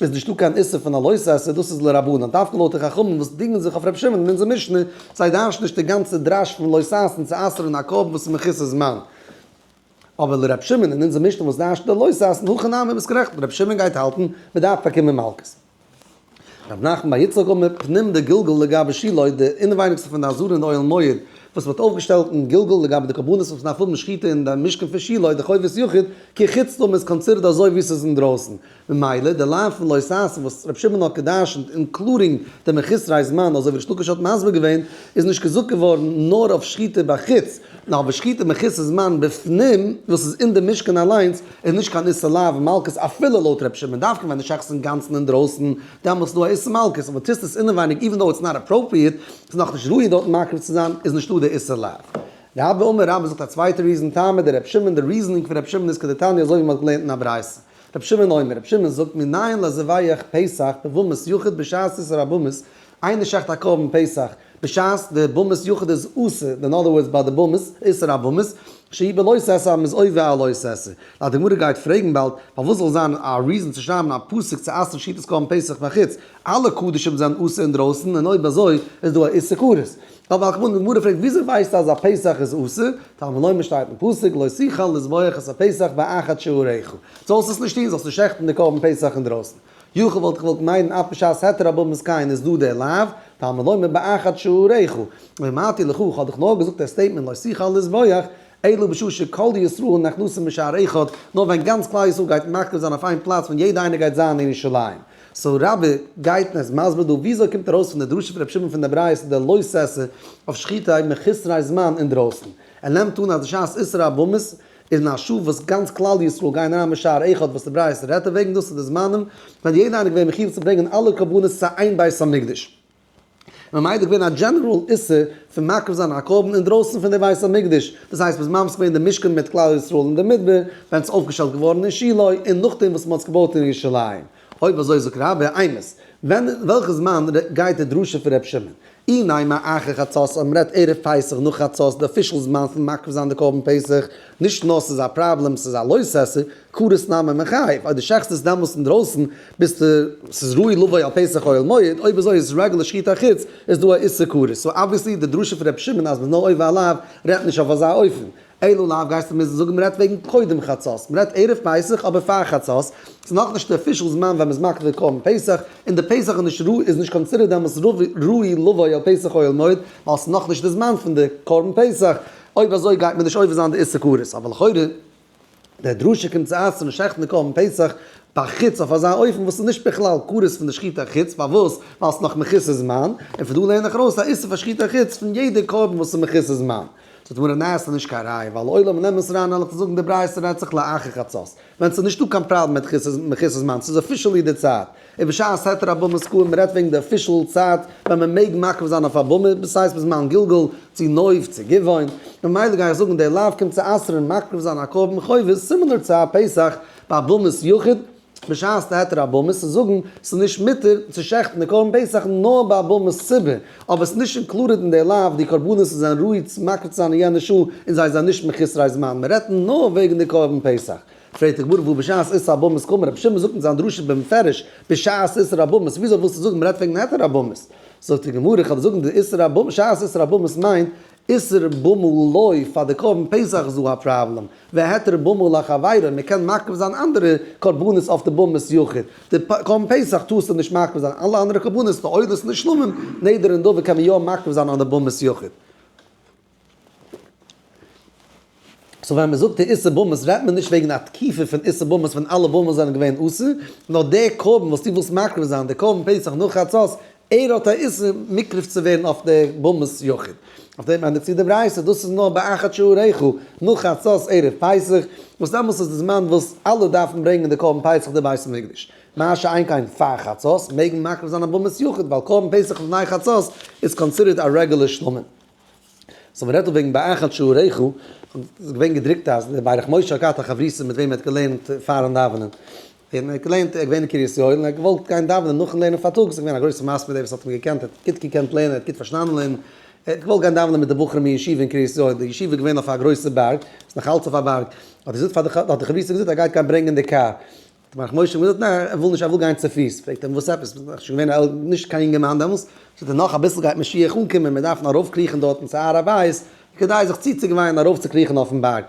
איז נישטא קיין איסור פון א לוי' סעסער, דאס איז לרבנן, דווקא לויט די חכמים וואס דינגען זיך אויף ר' שמעון אין אונזער משנה, זיי דרש'ן נישט די גאנצע דרש פון לוי' סעסען צו אסר'ן א קרבן וואס איז מכוסה זמן. אבער לר' שמעון אין אונזער משנה וואס דרש'ט די לוי' סעסען, הכי נמי, ביסט גערעכט, ר' שמעון גייט האלטן, מען דארף באקומען מלקות. ר' נחמן בר יצחק אומר, פנים דגלגל לגבי שילוי, די אינעווייניגסטע פון די אזור אין די אוהל מועד, וואס מען האט אויפגעשטעלט אין גלגל לגבי די קרבנות וואס מען דארף האבן שחיטה אין די משכן פון שילוי, די חובת יחיד, כחוץ טאר מען עס קאנצידערט אזוי ווי עס איז אינדרויסן. ממילא די לאו פון לא תעשה וואס רבי שמעון האט גע'דרש'נט אינקלודינג די מחוסרי זמן אזוי ווי ריש לקיש האט מסביר געווען איז נישט געזאגט געווארן נאר אויף שחיטה בחוץ נאר אויף שחיטה מחוסר זמן בפנים וואס איז אין די משכן אליינס איז נישט קיין איסור לאו און מלקות אפילו לויט רבי שמעון דווקא ווען די שחט איז אינגאנצן אינדרויסן דעמאלט איז דא א איסור מלקות אבער טוסט עס אינעווייניג איווען דאו איטס נאט אפראפריעט ס'איז נאכנישט ראוי דארטן מקריב צו זיין איז נישטא די איסור לאו. רבא אומר רבא זאגט א צווייטע ריזען טעמא די רבי שמעון די ריזענינג פון רבי שמעון איז כדתניא אזוי ווי מ'האט געלערנט אין א ברייתא. רבי שמעון אומר, רבי שמעון זאגט מנין לזבח פסח בבמות יחוד בשעת עשר הבמות, איינער שעכט א קרבן פסח בשעת די במות יחוד איז אסור, אין אדער ווארדס ביי די במות, עשר הבמות, שהיא בלא ססא אז מ'איז עובר על לא ססא. די גמרא גייט פרעגן באלד, פארוואס זאל זיין א ריזען צו שרייבן א פסוק צו אסר'ן שחיטת קרבן פסח בחוץ? אלע קדשים זענען אסור אינדרויסן, און אויב אזוי איז דא א איסור כרת. א בעל קמא אין די גמרא פרעגט וויאזוי ווייסטו אז א פסח איז אסור, טעם ולא מען שטייט אין פסוק לא שיחל לזבוח את הפסח באחד שעוריך, זאלסט עס נישט טון, זאלסט נישט שעכטן די קרבן פסח אינדרויסן, יאך וואלט איך געוואלט מיידן אף בשעת היתר א בבמס קיין איז דא דער לאו, טעם ולא מען באחד שעוריך, ואמרתי לך איך האב דיך נאר געזאגט דער סטעיטמענט לא שיחל לזבוח, אלא בשעה שכל ישראל נכנסים בשער אחד, נאר ווען גאנץ כלל ישראל גייט מקריב זיין אויף איין פלאץ ווען יעדער איינער גייט זיין אין ירושלים. סאו רבי גייט און ער איז מסביר דא וויאזוי קומט ארויס פון די דרשה פון רבי שמעון פון דער ברייתא דער לא עשה אויף שחיטה אויב מען חסרי זמן אינדרויסן, ער נעמט אן אז בשעת איסור הבמות איז אין א שעה וואס גאנץ כלל ישראל גייען אריין בשער אחד וואס די ברייתא רעדט אוועגן דאס איז די זמנים ווען יעדער איינער איז געווען מחיוב צו ברענגען אלע קרבנות צו איין בית המקדש, ממילא איז געווען א דזשענעראל איסור פון מקריב זיין א קרבן אינדרויסן פון די בית המקדש, דאס הייסט בזמן וואס מען האט די משכן מיט כלל ישראל אין די מדבר, ווען עס איז אויפגעשטעלט געווארן אין שילה, און נאכדעם וואס מען האט עס געבויט אין ירושלים. אויב אזוי זאגט רבא אמת. ווען, וועלכע זמן, גייט די דרשה פון ר' שמעון? אינאיינעם א אחרי חצות אז מען רעדט ערב פסח נאך חצות, די אפישעל זמן פון מקריב זיין די קרבן פסח, נישט נאר ס'איז א פראבלעם, ס'איז א לויסעסער, קרית נאמן און חיפה, אויב די שחט'סט דעמאלטס אינדרויסן ביסטו ס'איז ראוי לבוא על פסח אוהל מועד, אויב אזוי איז רגל לשחית החוץ איז דא א איסור כרת, סאו אבוויעסלי די דרשה פון ר' שמעון אז מ'איז נאר עובר עליו רעדט נישט אויף אזא אופן, אל עליו גייסטו מוזן זאגן מ'רעדט וועגן קודם חצות, מ'רעדט ערב פסח אבער פאר חצות, ס'איז נאכנישט די אפישעל זמן ווען מ'איז מקריב קרבן פסח, און די פסח איז נישט ראוי איז נישט קאנסידערט דעמאלטס ראוי לבוא על פסח אוהל מועד, ווייל ס'איז נאכנישט די זמן פון די קרבן פסח, אויב אזוי גייט מען נישט עובר זיין די איסור כרת, אבער לכאורה. דער דרשה קומט צו אסר'ן שעכטן די קרבן פסח ביי חוץ אויף אזא אופן וואס איז נישט בכלל כרת פון די שחיטה חוץ פארוואס ווייל ס'איז נאך מכוסה זמן, און פון דא לערן איך ארויס א איסור פאר שחיטה חוץ פון יעדע קרבן וואס איז מכוסה זמן. זאגט די גמרא ניין ס'איז נישט קיין ראיה ווייל לעולם און אמת ראיה נלך צו זאגן די ברייתא רייצעך לאחר חצות ווען ס'איז נישטא קיין פראבלעם מיט מכוסה זמן ס'איז אפישעלי די צייט און בשעת היתר אבאמא'ס קוים רעדט וועגן די אפישעל צייט ווען מען מעג מעכב זיין אויף אבאמא, דאס הייסט ביז מיין גלגול, צו נואף, צו גבעון, ממילא גיי איך זאגן די לאו קומט צו אסר'ן מעכב זיין א קרבן חובות סימילער צו א פסח ביי אבאמא'ס יחיד, בשעת היתר אבאמא'ס איז זאגן ס'איז נישט מותר צו שחט'ן די קרבן פסח נאר ביי אבאמא'ס ציבור, אבער ס'איז נישט אינקלודעד אין די לאו די קרבנות וואס זענען ראוי צו מעכב צו זיין אין יענע שעה און זיי זענען נישט מחוסרי זמן, מען רעדט נאר וועגן די קרבן פסח. פרעגט די גמרא וואו בשעת איסור אבאמאס קומען רבי שמעון זאגט אין זיין דרשה במפרש בשעת איסור אבאמאס וויאזוי ווילסטו זאגן מ'רעדט וועגן היתר אבאמאס זאגט די גמרא איך וועל זאגן די איסור אבאמאס שעת איסור אבאמאס מיינט איסור במו לא פאר די קרבן פסח איז דא א פראבלעם והיתר במו לחבירו מ'קען מקריב זיין אנדערע קרבנות אויף די במו יחיד די קרבן פסח טארסטו נישט מקריב זיין אלע אנדערע קרבנות די עולות נשלמים נדר און דאוה קען מען יא מקריב זיין אן די במו יחיד. סאו ווען מ'זאגט די איסור במות רעדט מען נישט וועגן א תקופה פון איסור במות ווען אלע במות זענען געווען אסור, נאר דער קרבן וואס דו ווילסט מקריב זיין דער קרבן פסח נאך חצות, ער האט א איסור מקריב צו ווערן אויף דער במות יחיד. אויף דעם ענדיגט זיך די ברייתא, דאס איז נאר ביי אחת שעוריך, נאך חצות ערב פסח, וואס דעמאלס איז די זמן וואס אלע דארפן ברענגען די קרבן פסח אין די בית המקדש. מה שאין כן פאר חצות מעג מען מקריב זיין א במות יחיד, ווייל קרבן פסח לפני חצות איז קאנסידערט א רעגולער שלמה. סאו מען רעדט דא וועגן באחד שעריך, ס'איז געווען געדרוקט אז דער ברך משה האט געהאט א חברותא מיט וועם ער האט געלערנט פארן דאווענען, און ער האט געלערנט, ער איז געווען אין קרית יואל און ער האט געוואלט גיין דאווענען נאכן לערנען פארטאגס, ס'איז געווען א גרויסע מעשה מיט דעם וואס האט אים געקענט, ער האט גוט געקענט לערנען, ער האט גוט פארשטאנען לערנען, ער האט געוואלט גיין דאווענען מיט די בחורים אין ישיבה אין קרית יואל, די ישיבה איז געווען אויף א גרויסע בארג, ס'איז נאך אלץ אויף א בארג, האט ער געזאגט פאר די, האט די חברותא געזאגט אז ער גייט גיין ברענגען די קאר, מח משה מוז האט נאר ער וויל נישט ער וויל גיין צופיס פרעגט ער אים וואס עפעס ביסט שוין געווען א נישט קיין יונגערמאן דעמאלס זאגט ער נאך אביסל גייט משיח אנקומען מען דארף נאר ארויף קריכן דארטן צו הר הבית כדי זיך צוצוגעוויינען ארויף צו קריכן אויפן בארג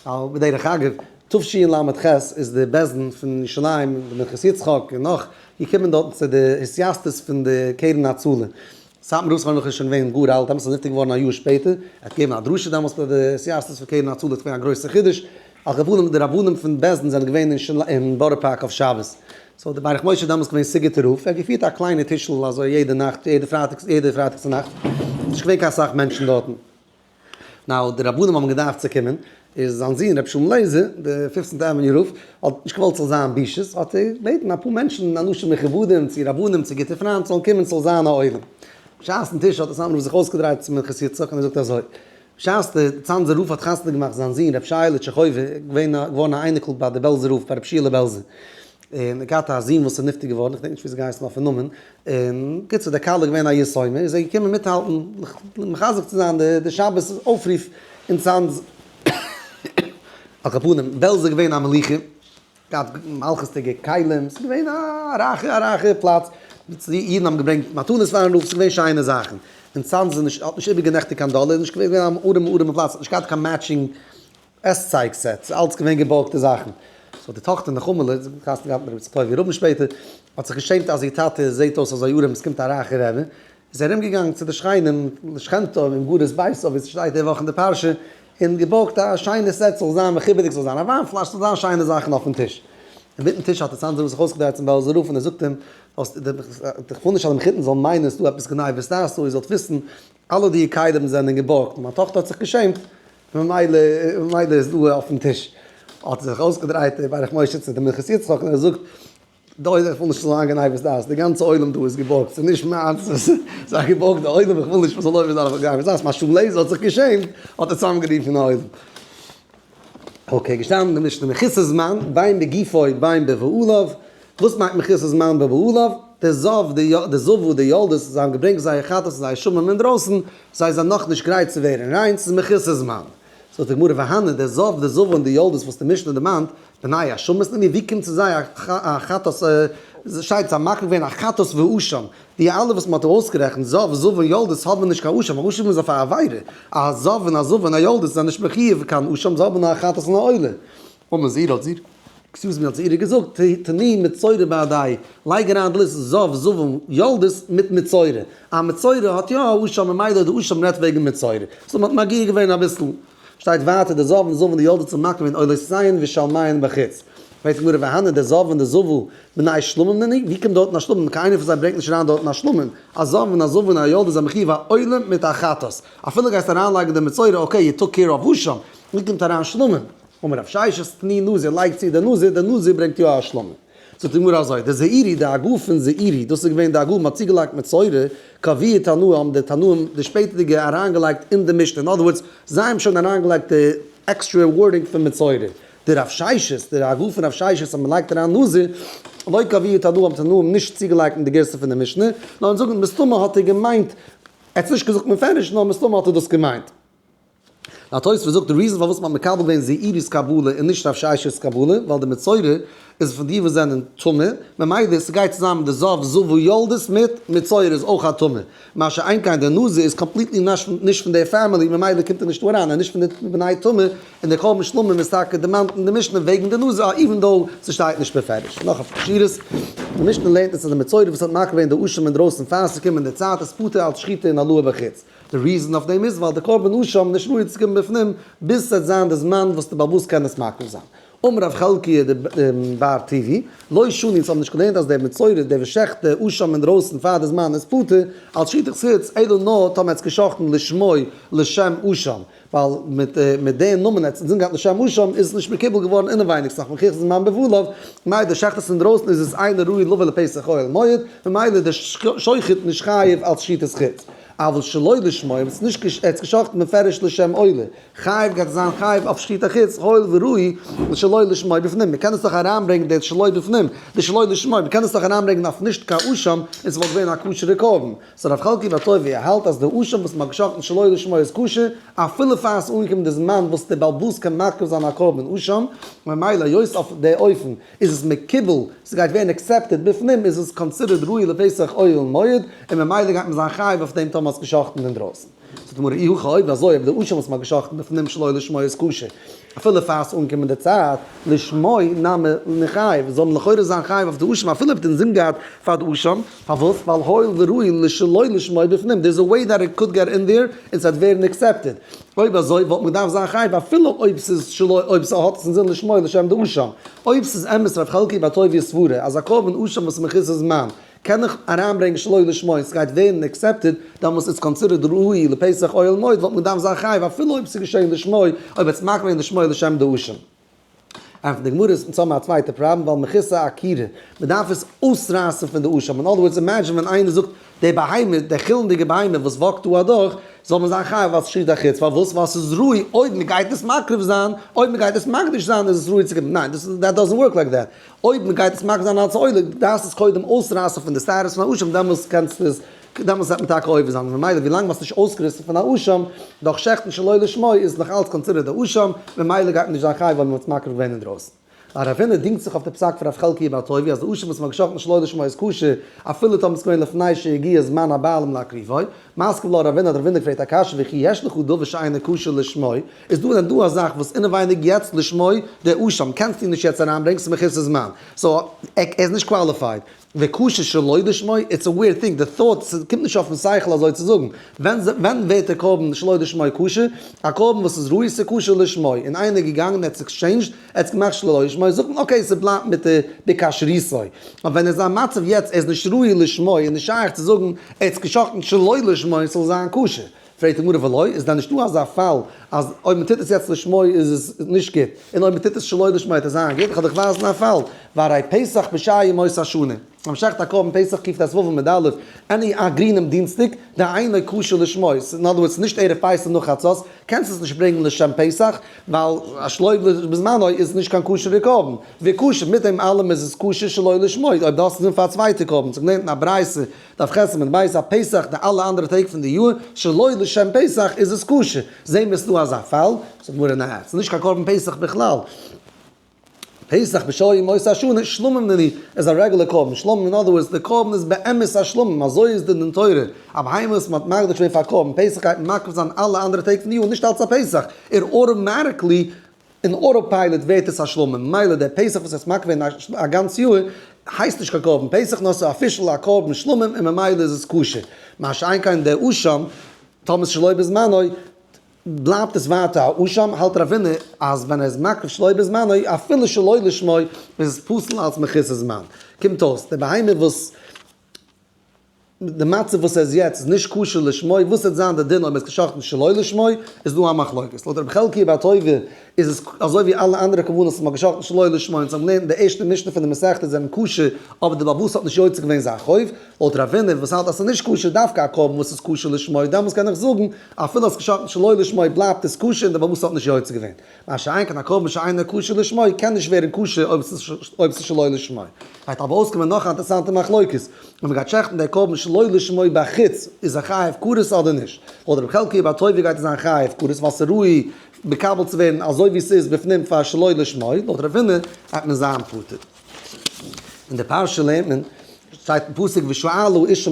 ווייל בדרך אגב תשי ל ח איז די בעש ט פון ירושלים פון פנחס יצחק און נאך געקומען דארטן צו די התייסדות פון די קרן הצלה סאטמאר רב איז פארמעגליך שוין געווען גאר אלט דעמאלטס און איז נפטר געווארן א יאר שפעטער, ער האט געגעבן א דרשה דעמאלטס פאר די סיעסטערס פון קרן הצלה, עס איז געווען א גרויסע חידוש, על כל פנים די רבנים פון בעש ט זענען געווען אין בארא פארק אויף שבת, סאו איז דער ברך משה דעמאלטס געווען סיגוט'ער רב, ער האט געפירט א קליינע טישל אזוי יעדע נאכט, יעדע פרייטאג צו נאכט, ס'איז נישט געווען קיין אסאך מענטשן דארטן. נאו די רבנים האבן געדארפט צו קומען, איז זיין זון רבי שלום לעזער, די פיפצענטע עוועניו רב, האט נישט געוואלט ס'זאל זיין בושות, האט ער געבעטן אפאר מענטשן אנשים מכובדים צו רבנים צו גוטע פריינט זאלן קומען ס'זאל זיין א עולם. בשעת'ן טיש האט עס אנדערע זיך אויסגעדרייט צו מנחת יצחק און ער זאגט אזוי, בשעת די צאנזער רב האט חתונה געמאכט זיין זון רבי שייעלע טשעכויווער, געווען געווארן א אייניקל ביי די בעלזער רב ביי רבי שיעלע בעלזער, און ער געהאט א זון וואס איז נפטר געווארן, כ'דענק נישט ווי עס געהייסן אויפן נאמען, און בקיצור דער כלה איז געווען א יתומה, איז ער געקומען מיטהאלטן מחזק צו זיין די שבת אויפרוף אין צאנז, על כל פנים, בעלזא איז געווען א מלוכה, געהאט מלכות'דיגע כלים, ס'איז געווען א רייכע א רייכע פלאץ, אידן האבן געברענגט מתנות פארן רב, ס'איז געווען שיינע זאכן, אין צאנז איז נישט, האט נישט איבערגענעכטיגט קיין דאלער, איז נישט געווען, איז געווען אן ארעמע ארעמע פלאץ, נישט געהאט קיין מעטשינג עס צייג סע צו אלץ געווען געבארגטע זאכן. סאו די טאכטער נחמה לע, זי האט געהייסן געהאט מיט רבי צדקי' רבין שפעטער, האט זיך געשעמט אז איר טאטע זעהט אויס אזוי ארעם עס קומט א רייכע רעבע, איז זי ארום געגאנגען צו די שכנים לשכנתו און גרות ביתו ווי ס'שטייט די וואך אין די פרשה, און געבארגט א שיינע סע ס'זאל זיין מכובד'יג ס'זאל זיין א וויין פלאש ס'זאל זיין שיינע זאכן אויפן טיש. אינמיטן טיש האט די צאנזער זיך אויסגעדרייט צום בעלזער רב און ער זאגט אים, איך וויל נישט אז דעם חיתן זאל מיינען ס'דא עפעס גניבות תעשו איר זאלט וויסן אלע די כלים זענען געבארגט, מיין טאכטער האט זיך געשעמט, ממילא ממילא איז דא אויפן טיש. האט ער זיך אויסגעדרייט דער ברך משה צו די מנחת יצחק און ער זאגט, דא איז איך וויל נישט ס'זאל זיין גניבת דעת, די גאנצע עולם דא איז געבארגט, ס'איז נישט מיינס, ס'איז א געבארגטע עולם, איך וויל נישט מ'זאל לויפן און זיין אויף גניבת דעת, משום לעז האט זיך געשעמט, האט ער צוזאמגערופן די עולם. אקעי, געשטאנען אין די משנה מחוסר זמן בין בגופו בין בבעליו, וואס מיינט מחוסר זמן בין בבעליו? די זב די יא די זב ודי ילדות זיי האבן געברענגט זייער חטאת און זייער שמים אינדרויסן, זיי זענען נאך נישט גרייט צו ווערן ריין, ס'איז מחוסר זמן. זאגט די גמרא והנה די זב די זב און די ילדות וואס די משנה דערמאנט, בני השמים, נו ווי קומט צו זיי א חטאת, שייטס זיי מאכן געווען א חטאת והוא שם, די אלע וואס מען האט ארויסגערעכנט זב זב און יולדות האבען נישט קיין אשם, אשם איז אויף א עבירה, א זב און א זב און א יולדות זענען נישט מחיוב קיין אשם, זיי האבען נאר א חטאת און א עולה. אמר זירא האט זירא. עקסיוז מי האט זירא געזאגט, תני מצורע בידי, לייג אריין די ליסט זב זב און יולדות מיט מצורע, א מצורע האט יא א אשם ממילא די אשם רעדט וועגען מצורע, סאו מען האט מגיה געווען אביסל. שטייט ווייטער די זאב און זבו די יולדות ומקום אין עולות ציון ושל מעיין בחוץ. פרעגט הגמרא והנה די זאב און די זבו מנאי שלמים נעני? ווי קומט דארטן א שלמים? קיינער פון זיי ברענגט נישט אריין דארטן א שלמים. א זאב און א זבו און א יולדה זענען מחיוב א עולם מיט א חטאת. אפילו גייסט אריינלייגן די מצורע אקעי יו טוק קעיר אוו וואו שם. ווי קומט אריין שלמים? אמר רב ששת ני נזיר לייג צו די נזיר די נזיר ברענגט יא א שלמים. זאגט די גמרא אזוי, די זעירי די הגה פון זעירי, דאס איז געווען די הגה וואס מ'האט צוגעלייגט מיט סוירע, קאווע און תנא האבן די תנאים די שפעטערדיגע אריינגעלייגט אין די משנה, אין אדער ווארדס, זיי האבן שוין אריינגעלייגט די עקסטרע ווארדינג פון מיט סוירע. די רב ששת, די הגה פון רב ששת אז מ'לייגט אריין נזר, לויט קאווע און תנא האבן די תנאים נישט צוגעלייגט אין די גירסא פון די משנה, נאר אונז זאגן מסתמא האט ער געמיינט, ער האט עס נישט געזאגט מפורש, נאר מסתמא האט ער דאס געמיינט. דער תוספות זאגט די ריזען פארוואס מען האט מקבל געווען זעירי'ס קבלה און נישט רב שש'ס קבלה, ווייל די מצורע איז פון די וואס זענען טמא, ממילא ס'גייט צוזאמען די זב זבו יולדות מיט מצורע איז אויך א טמא, מה שאין כן דער נזיר איז קאמפליטלי נישט פון די פעמילי ממילא קומט ער נישט דא אריין, ער איז נישט פון די טמא בני טמא, און דער קרבן שלמים איז טאקע דערמאנט אין די משנה וועגן די נזיר איווען דאו ס'שטייט נישט מפורש. נאך א פשר'ס, די משנה לערנט אונז אז די מצורע וואס האט מקריב געווען די אשים אינדרויסן פאר ס'קומענדע צייט איז פטור אלץ שחיטה און הלואה בחוץ. די ריזען אויף דעם איז ווייל די קרבן אשה האבן נישט מורא צו קומען בפנים ביז ס'עט זיין די זמן וואס די באבוס קענען עס מקריב זיין. אמר רב חלקי ע ד באר טוביה, לא שני, זיי האבן נישט געלערנט אז דער מצורע, דער וואס שעכט די אשה אינדרויסן פאר די זמן איז פטור, אלס שחיטת חוץ, אלא נאר טאמער ער האט עס געשאכטן לשמו לשם אשה, ווייל מיט מיט די נאמען האט עס אינזין געהאט לשם משם איז עס נישט מקובל געווארן אינעווייניגס נאך מכח זמן בבלב, מאי דער שחט עס אינדרויסן איז עס אינו ראוי לבא לפסח אוהל מועד, ממילא איז דער שוחט נישט חייב אלס שחיטת חוץ, אבל שלא לשמו אויב עס איז נישט ער האט עס גע'שחט'ן מפרש לשם אוהל חייב גייט ער זיין חייב אויף שחיטה חוץ הואיל וראוי לשלא לשמו בפנים, מען קען עס דאך אריינברענגן די שלא בפנים די שלא לשמו מען קען עס דאך אריינברענגן אויף נישט קאושם און עס וואלט געווען א כשר'ע קרבן. סאו רב חלקי וואטאויווי א האלט אז די אשם וואס מ'האט געשחט'ן שלא לשמה איז כשר, אפילו פאר ס'איז אנגעקומען די זמן וואס די בעל בת'ס קען מקריב זיין א קרבן אשם, ממילא היות אויף די אופן איז עס מקובל, ס'גייט ווערן עקסעפטעד בפנים, איז עס קאנסידערט ראוי לפסח אויל מועד, און ממילא גייט מען זיין חייב אויף דעם טאמער מ'האט עס געשחט'ן אינדרויסן. זאגט די גמרא אי הכא אויב אזוי אויב די אשה וואס מען האט געשחט'ן אויפן נים'ן שלא לשמה איז כשר אפילו פאר ס'איז אנגעקומען די צייט לשמה נמי נחייב זאל מען לכאורה זיין חייב אויף די אשה אפילו אויב מען האט אינזין געהאט פאר די אשה פארוואס ווייל הואיל וראי' לשלא לשמה בפנים דער איז א וועי דעט איט קאלד געט אין דיר און ס'וועט ווערן עקסעפטעד אויב אזוי וואלט מען געדארפט זיין חייב אפילו אויב ס'איז שלא אויב ס'האט עס אינזין לשמה לשם די אשה אויב ס'איז אמת רב חלקי בה טוב יסברה אז א קרבן אשה וואס מכוסה זמן קען איך אריינברענגן שלא לשמה און סגייט ווערן עקסעפטעד, דעמאלס איז קאנסידערד ראוי לפסח אוהל מועד וואלט מען געדארפט זיין חייב אפילו אויב סאיז געשען לשמה אויב וועט סמאכן וועגן לשמה לשם דאורשין. אויף די גמרא איז צאמער א צווייטע פראבלעם ווייל מכיסא עקירא מדארף עס אויסרייסן פון די אשם אין אדער ווארדס אימעדזשין ווען איינער זאגט די בהמה די חילנדיגע בהמה וואס וואקט דא אדורך זאל מען זיין חייב ווייל סשריט אחוץ פארוואס ווייל סאיז ראוי אויב מגייט עס מקריב זיין אויב מגייט עס מקדיש זיין איז עס ראוי צו גיבן ניין דאס דאזענט ווארק לייק דעט אויב מען גייט עס מגדיר זיין אלץ עולה, דארפסט עס קודם אויסרייסן פון די שערות פון א אשם, דעמאלס קענסטו עס, דעמאלס וועט מען טאקע עובר זיין, ממילא ווילאנג מען האט עס נישט אויסגעריסן פון א אשם, דורך שעכטן שלא לשמה, איז עס נאך אלץ קאנסידערט א אשם, ממילא גייט מען נישט זיין חייב ווייל מען האט עס מקריב געווען אינדרויסן. א רבינער דינגט זיך אויף די פסק פון רב חלקיה בר טובי' אז די אשם וואס מען האט געשאכטן שלא לשמה איז כשר, אפילו טאמער עס איז געווען לפני שהגיע זמן הבעלים להקריבו, מסכם לא רבינא, די רבינער פרעגט א קשיא וכי יש לך דבר שאינו כשר לשמו, איז דא דען דא א זאך וואס אינעווייניג יעצט לשמי דעו שם קענסטו נישט יעצט אריינברענגן? ס'איז מכסה זמן. סאו ער איז נישט קוואליפייד. וקשה שלא לשמי, איטס א וויערד טינג, די thought, ס'קומט נישט אויפן שכל אזוי צו זאגן. ווען ווערט די קרבן שלא לשמי כשר? א קרבן וואס איז ראוי ס'איז כשר לשמי, און איינער איז געגאנגען ער האט עקסטשעינדזשד, ער האט עס געמאכט שלא לשמי, זאגט מען אקעי ס'בלייבט מיט די בכשריותו. אבער ווען ער איז אין א מצב יעצט ער איז נישט ראוי לשמי איז נישט שייך צו זאגן ער האט עס גע'שחט'ן שלא לשמי ס'זאל זיין כשר. פרעגט די גמרא ולא, איז דען נישטא אזא פאל אז אויב מען טוט עס יעצט לשמו איז עס נישט גוט, און אויב מען טוט עס שלא לשמו וועט עס זיין גוט, כ'וועל דיך ווייזן א פאל, והרי פסח בשעה ימות השנה, אז מען שלעכט א קרבן פסח ק ט א ז ו עמוד א', עני א גרינעם דינסטאג, דהיינו כשר לשמו, אין אנדער ווארדס נישט ערב פסח נאך חצות, קענסט עס נישט ברענגן לשם פסח, ווייל א שלא בזמנו איז נישט קיין כשר'ע קרבן, וכשר, מיט דעם אלעם איז עס כשר שלא לשמו, אויב דו האסט עס גענומען פאר א צווייטע קרבן, ס'איז געווען אין א ברייתא. דארף איך עסן מיט בית א פסח די אלע אנדערע טעג פון די יאר שלא לשם פסח איז עס כשר? זעהן מיר עס נאר אזא פאל, זאגט די גמרא ניין עס איז נישט קיין קרבן פסח בכלל, פסח בשלום עם עושה שנה שלמים נני איז א רעגולער קרבן שלמים אין אדער ווארדס די קרבן איז באמת א שלמים אזוי איז די דין תורה א בהמה וואס מ'האט מקדיש געווען פאר קרבן פסח גייט מען מקריב זיין אלע אנדערע טעג פון די יאר נישט אלץ א פסח ער אוטאמאטיקלי אין אוטא פיילעט ווערט עס א שלמה, ממילא דער פסח וואס עס מקפיד ווערן א גאנץ יאר, הייסט נישט קיין קרבן פסח נאר עס איז אפישעל א קרבן שלמה און ממילא איז עס כשר, מה שאין כן דער אשם, טאמער עס איז שלא בזמנו, בלייבט עס ווייטער א אשם, האלט רבינא אז ווען ער איז מקריב שלא בזמנו, אפילו שלא לשמה, איז עס פסול אלץ מכיסא זמן. קומט אויס, די בהמה וואס. די מצב וואס ער איז יעצט איז נישט כשר לשמו, וואס וועט זיין די דין אויב ער האט גע'שחט'ן שלא לשמו, איז דא א מחלוקת. לויט רבי חלקיה בר טויבער איז עס אזוי ווי אלע אנדערע קרבנות וואס מען האט גע'שחט'ן שלא לשמו און זיי האבן געלערנט אין די ערשטע משנה פון די מסכת זענען כשר, אבער די בעל הבית האט נישט יוצא געווען זיין חוב. לויט רב ווינר וואס האלט אז עס איז נישט כשר דווקא א קרבן וואס איז כשר לשמו, דעמאלס קען איך זאגן אפילו האסט גע'שחט'ן שלא לשמו בלייבט עס כשר און די בעל הבית האט נישט יוצא געווען. מה שאין כן א קרבן שאינו כשר לשמו קען נישט ווערן כשר אויב עס איז שלא לשמו. גייט אבער אויסקומען נאך א אינטערעסאנטע מחלוקת, אויב מען גייט שעכטן די קרבן שלא לשמו בחוץ איז ער חייב כרת אדער נישט. לויט רבי חלקיה בר טוביה גייט ער זיין חייב כרת ווייל עס איז ראוי מקבל צו ווערן אזוי ווי עס איז בפנים פאר שלא לשמו, לויט רב הונא גייט מען זיין פטור. אין די פרשה לערנט מען, שטייט אין פסוק ושאלו אישה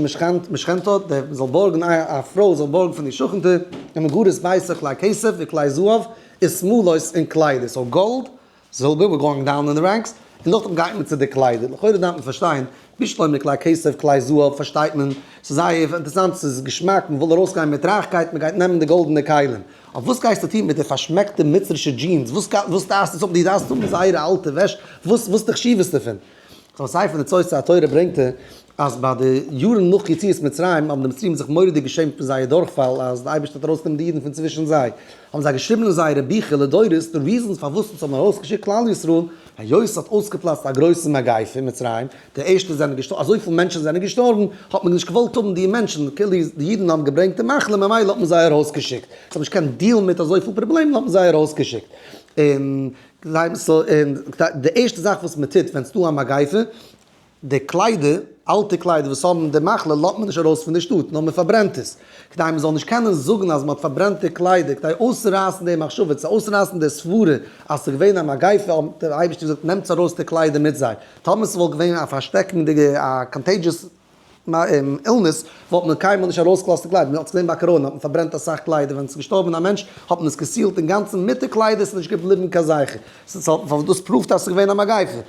משכנתו, דער וואס זאל בארגן א פרוי זאל בארגן פון די שכנ'טע, און מגורת ביתה כלי כסף וכלי זהב און שמלות און קליידער, סאו גאלד, זילבער, ווער גאוינג דאון אין די רענקס, און נאכדעם גייט מען צו די קליידער, לכאורה דארף מען פארשטיין, נישט לויט די כלי כסף כלי זהב פארשטייט מען, ס'איז זייער אינטערעסאנט, ס'איז געשמאק, מ'וויל ארויסגיין מיט רייכקייט, מ'גייט נעמען די גאלדענע כלים. אויף וואס גייסטו טון מיט די פארשמעקטע מצרישע דזשינס? וואס טארסטו עס האבן? דו דארפסט האבן זייערע אלטע וועש? וואס די חשיבות דערפון? זיין ספר די צורת התורה ברענגט ער אז ביי די יארן נאך יציאת מצרים האבן די מצריים זיך מורא'דיג געשעמט פון זייער דורכפאל אז די אייבערשטער האט ארויסגענומען די אידן פון צווישן זיי, האבן זיי געשריבן אין זייערע ביכער לדורות די ריזענס פארוואס אונז האבן ארויסגעשיקט כלל ישראל היות ס'האט אויסגעפלאצט א גרויסע מגיפה אין מצרים, די ערשטע זענען געשטארבן, אזויפיל מענטשן זענען געשטארבן, האט מען נישט געוואלט האבן די מענטשן, כאילו די אידן האבן געברענגט די מחלה, ממילא האט מען זיי ארויסגעשיקט, זיי האבן נישט געקענט דיעלן מיט אזויפיל פראבלעמען האט מען זיי ארויסגעשיקט, און די ערשטע זאך וואס מען טוט ווען ס'דא א מגיפה, די קליידער, אלטע קליידער וואס האבן די מחלה לאזט מען נישט ארויס פון די שטאט, נאר מען פארברענט עס, כדי מען זאל נישט קענען זאגן אז מען האט פארברענט די קליידער, כדי אויסצורייסן די מחשבה, צו אויסרייסן די סברה אז ס'איז געווען א מגיפה, האט דער אייבערשטער געזאגט נעמטס ארויס די קליידער מיט זיי. טאמער ס'וואלט געווען א פארשטעקנדיגע א קאנטעידזשעס אילנעס וואלט מען קיינמאל נישט ארויסגעלאזט די קליידער, מען האט עס געזען ביי קאראנע האט מען פארברענט אסאך קליידער ווען ס'איז געשטארבען א מענטש האט מען עס געסילט אינגאנצען מיט די קליידער ס'איז נישט געבליבען קיין זכר ס'איז האט דאס פראווט אז ס'איז געווען א מגיפה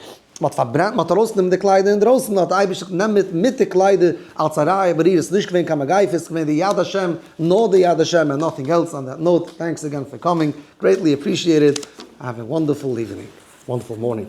מען האט פארברענט מען האט ארויסגענומען די קליידער אינדרויסען מען האט די אייבישטער געזאגט נעם מיט מיט די קליידער אלץ א ראיה בעריר עס איז נישט געווען קיין מגיפה עס איז געווען די יד השם נאר די יד השם ענד נאטינג עלס אן דעט נאוט טענקס אגען פאר קאמינג גרעיטלי אפרישיעטעד האוו א וואנדערפול איווענינג וואנדערפול מארנינג.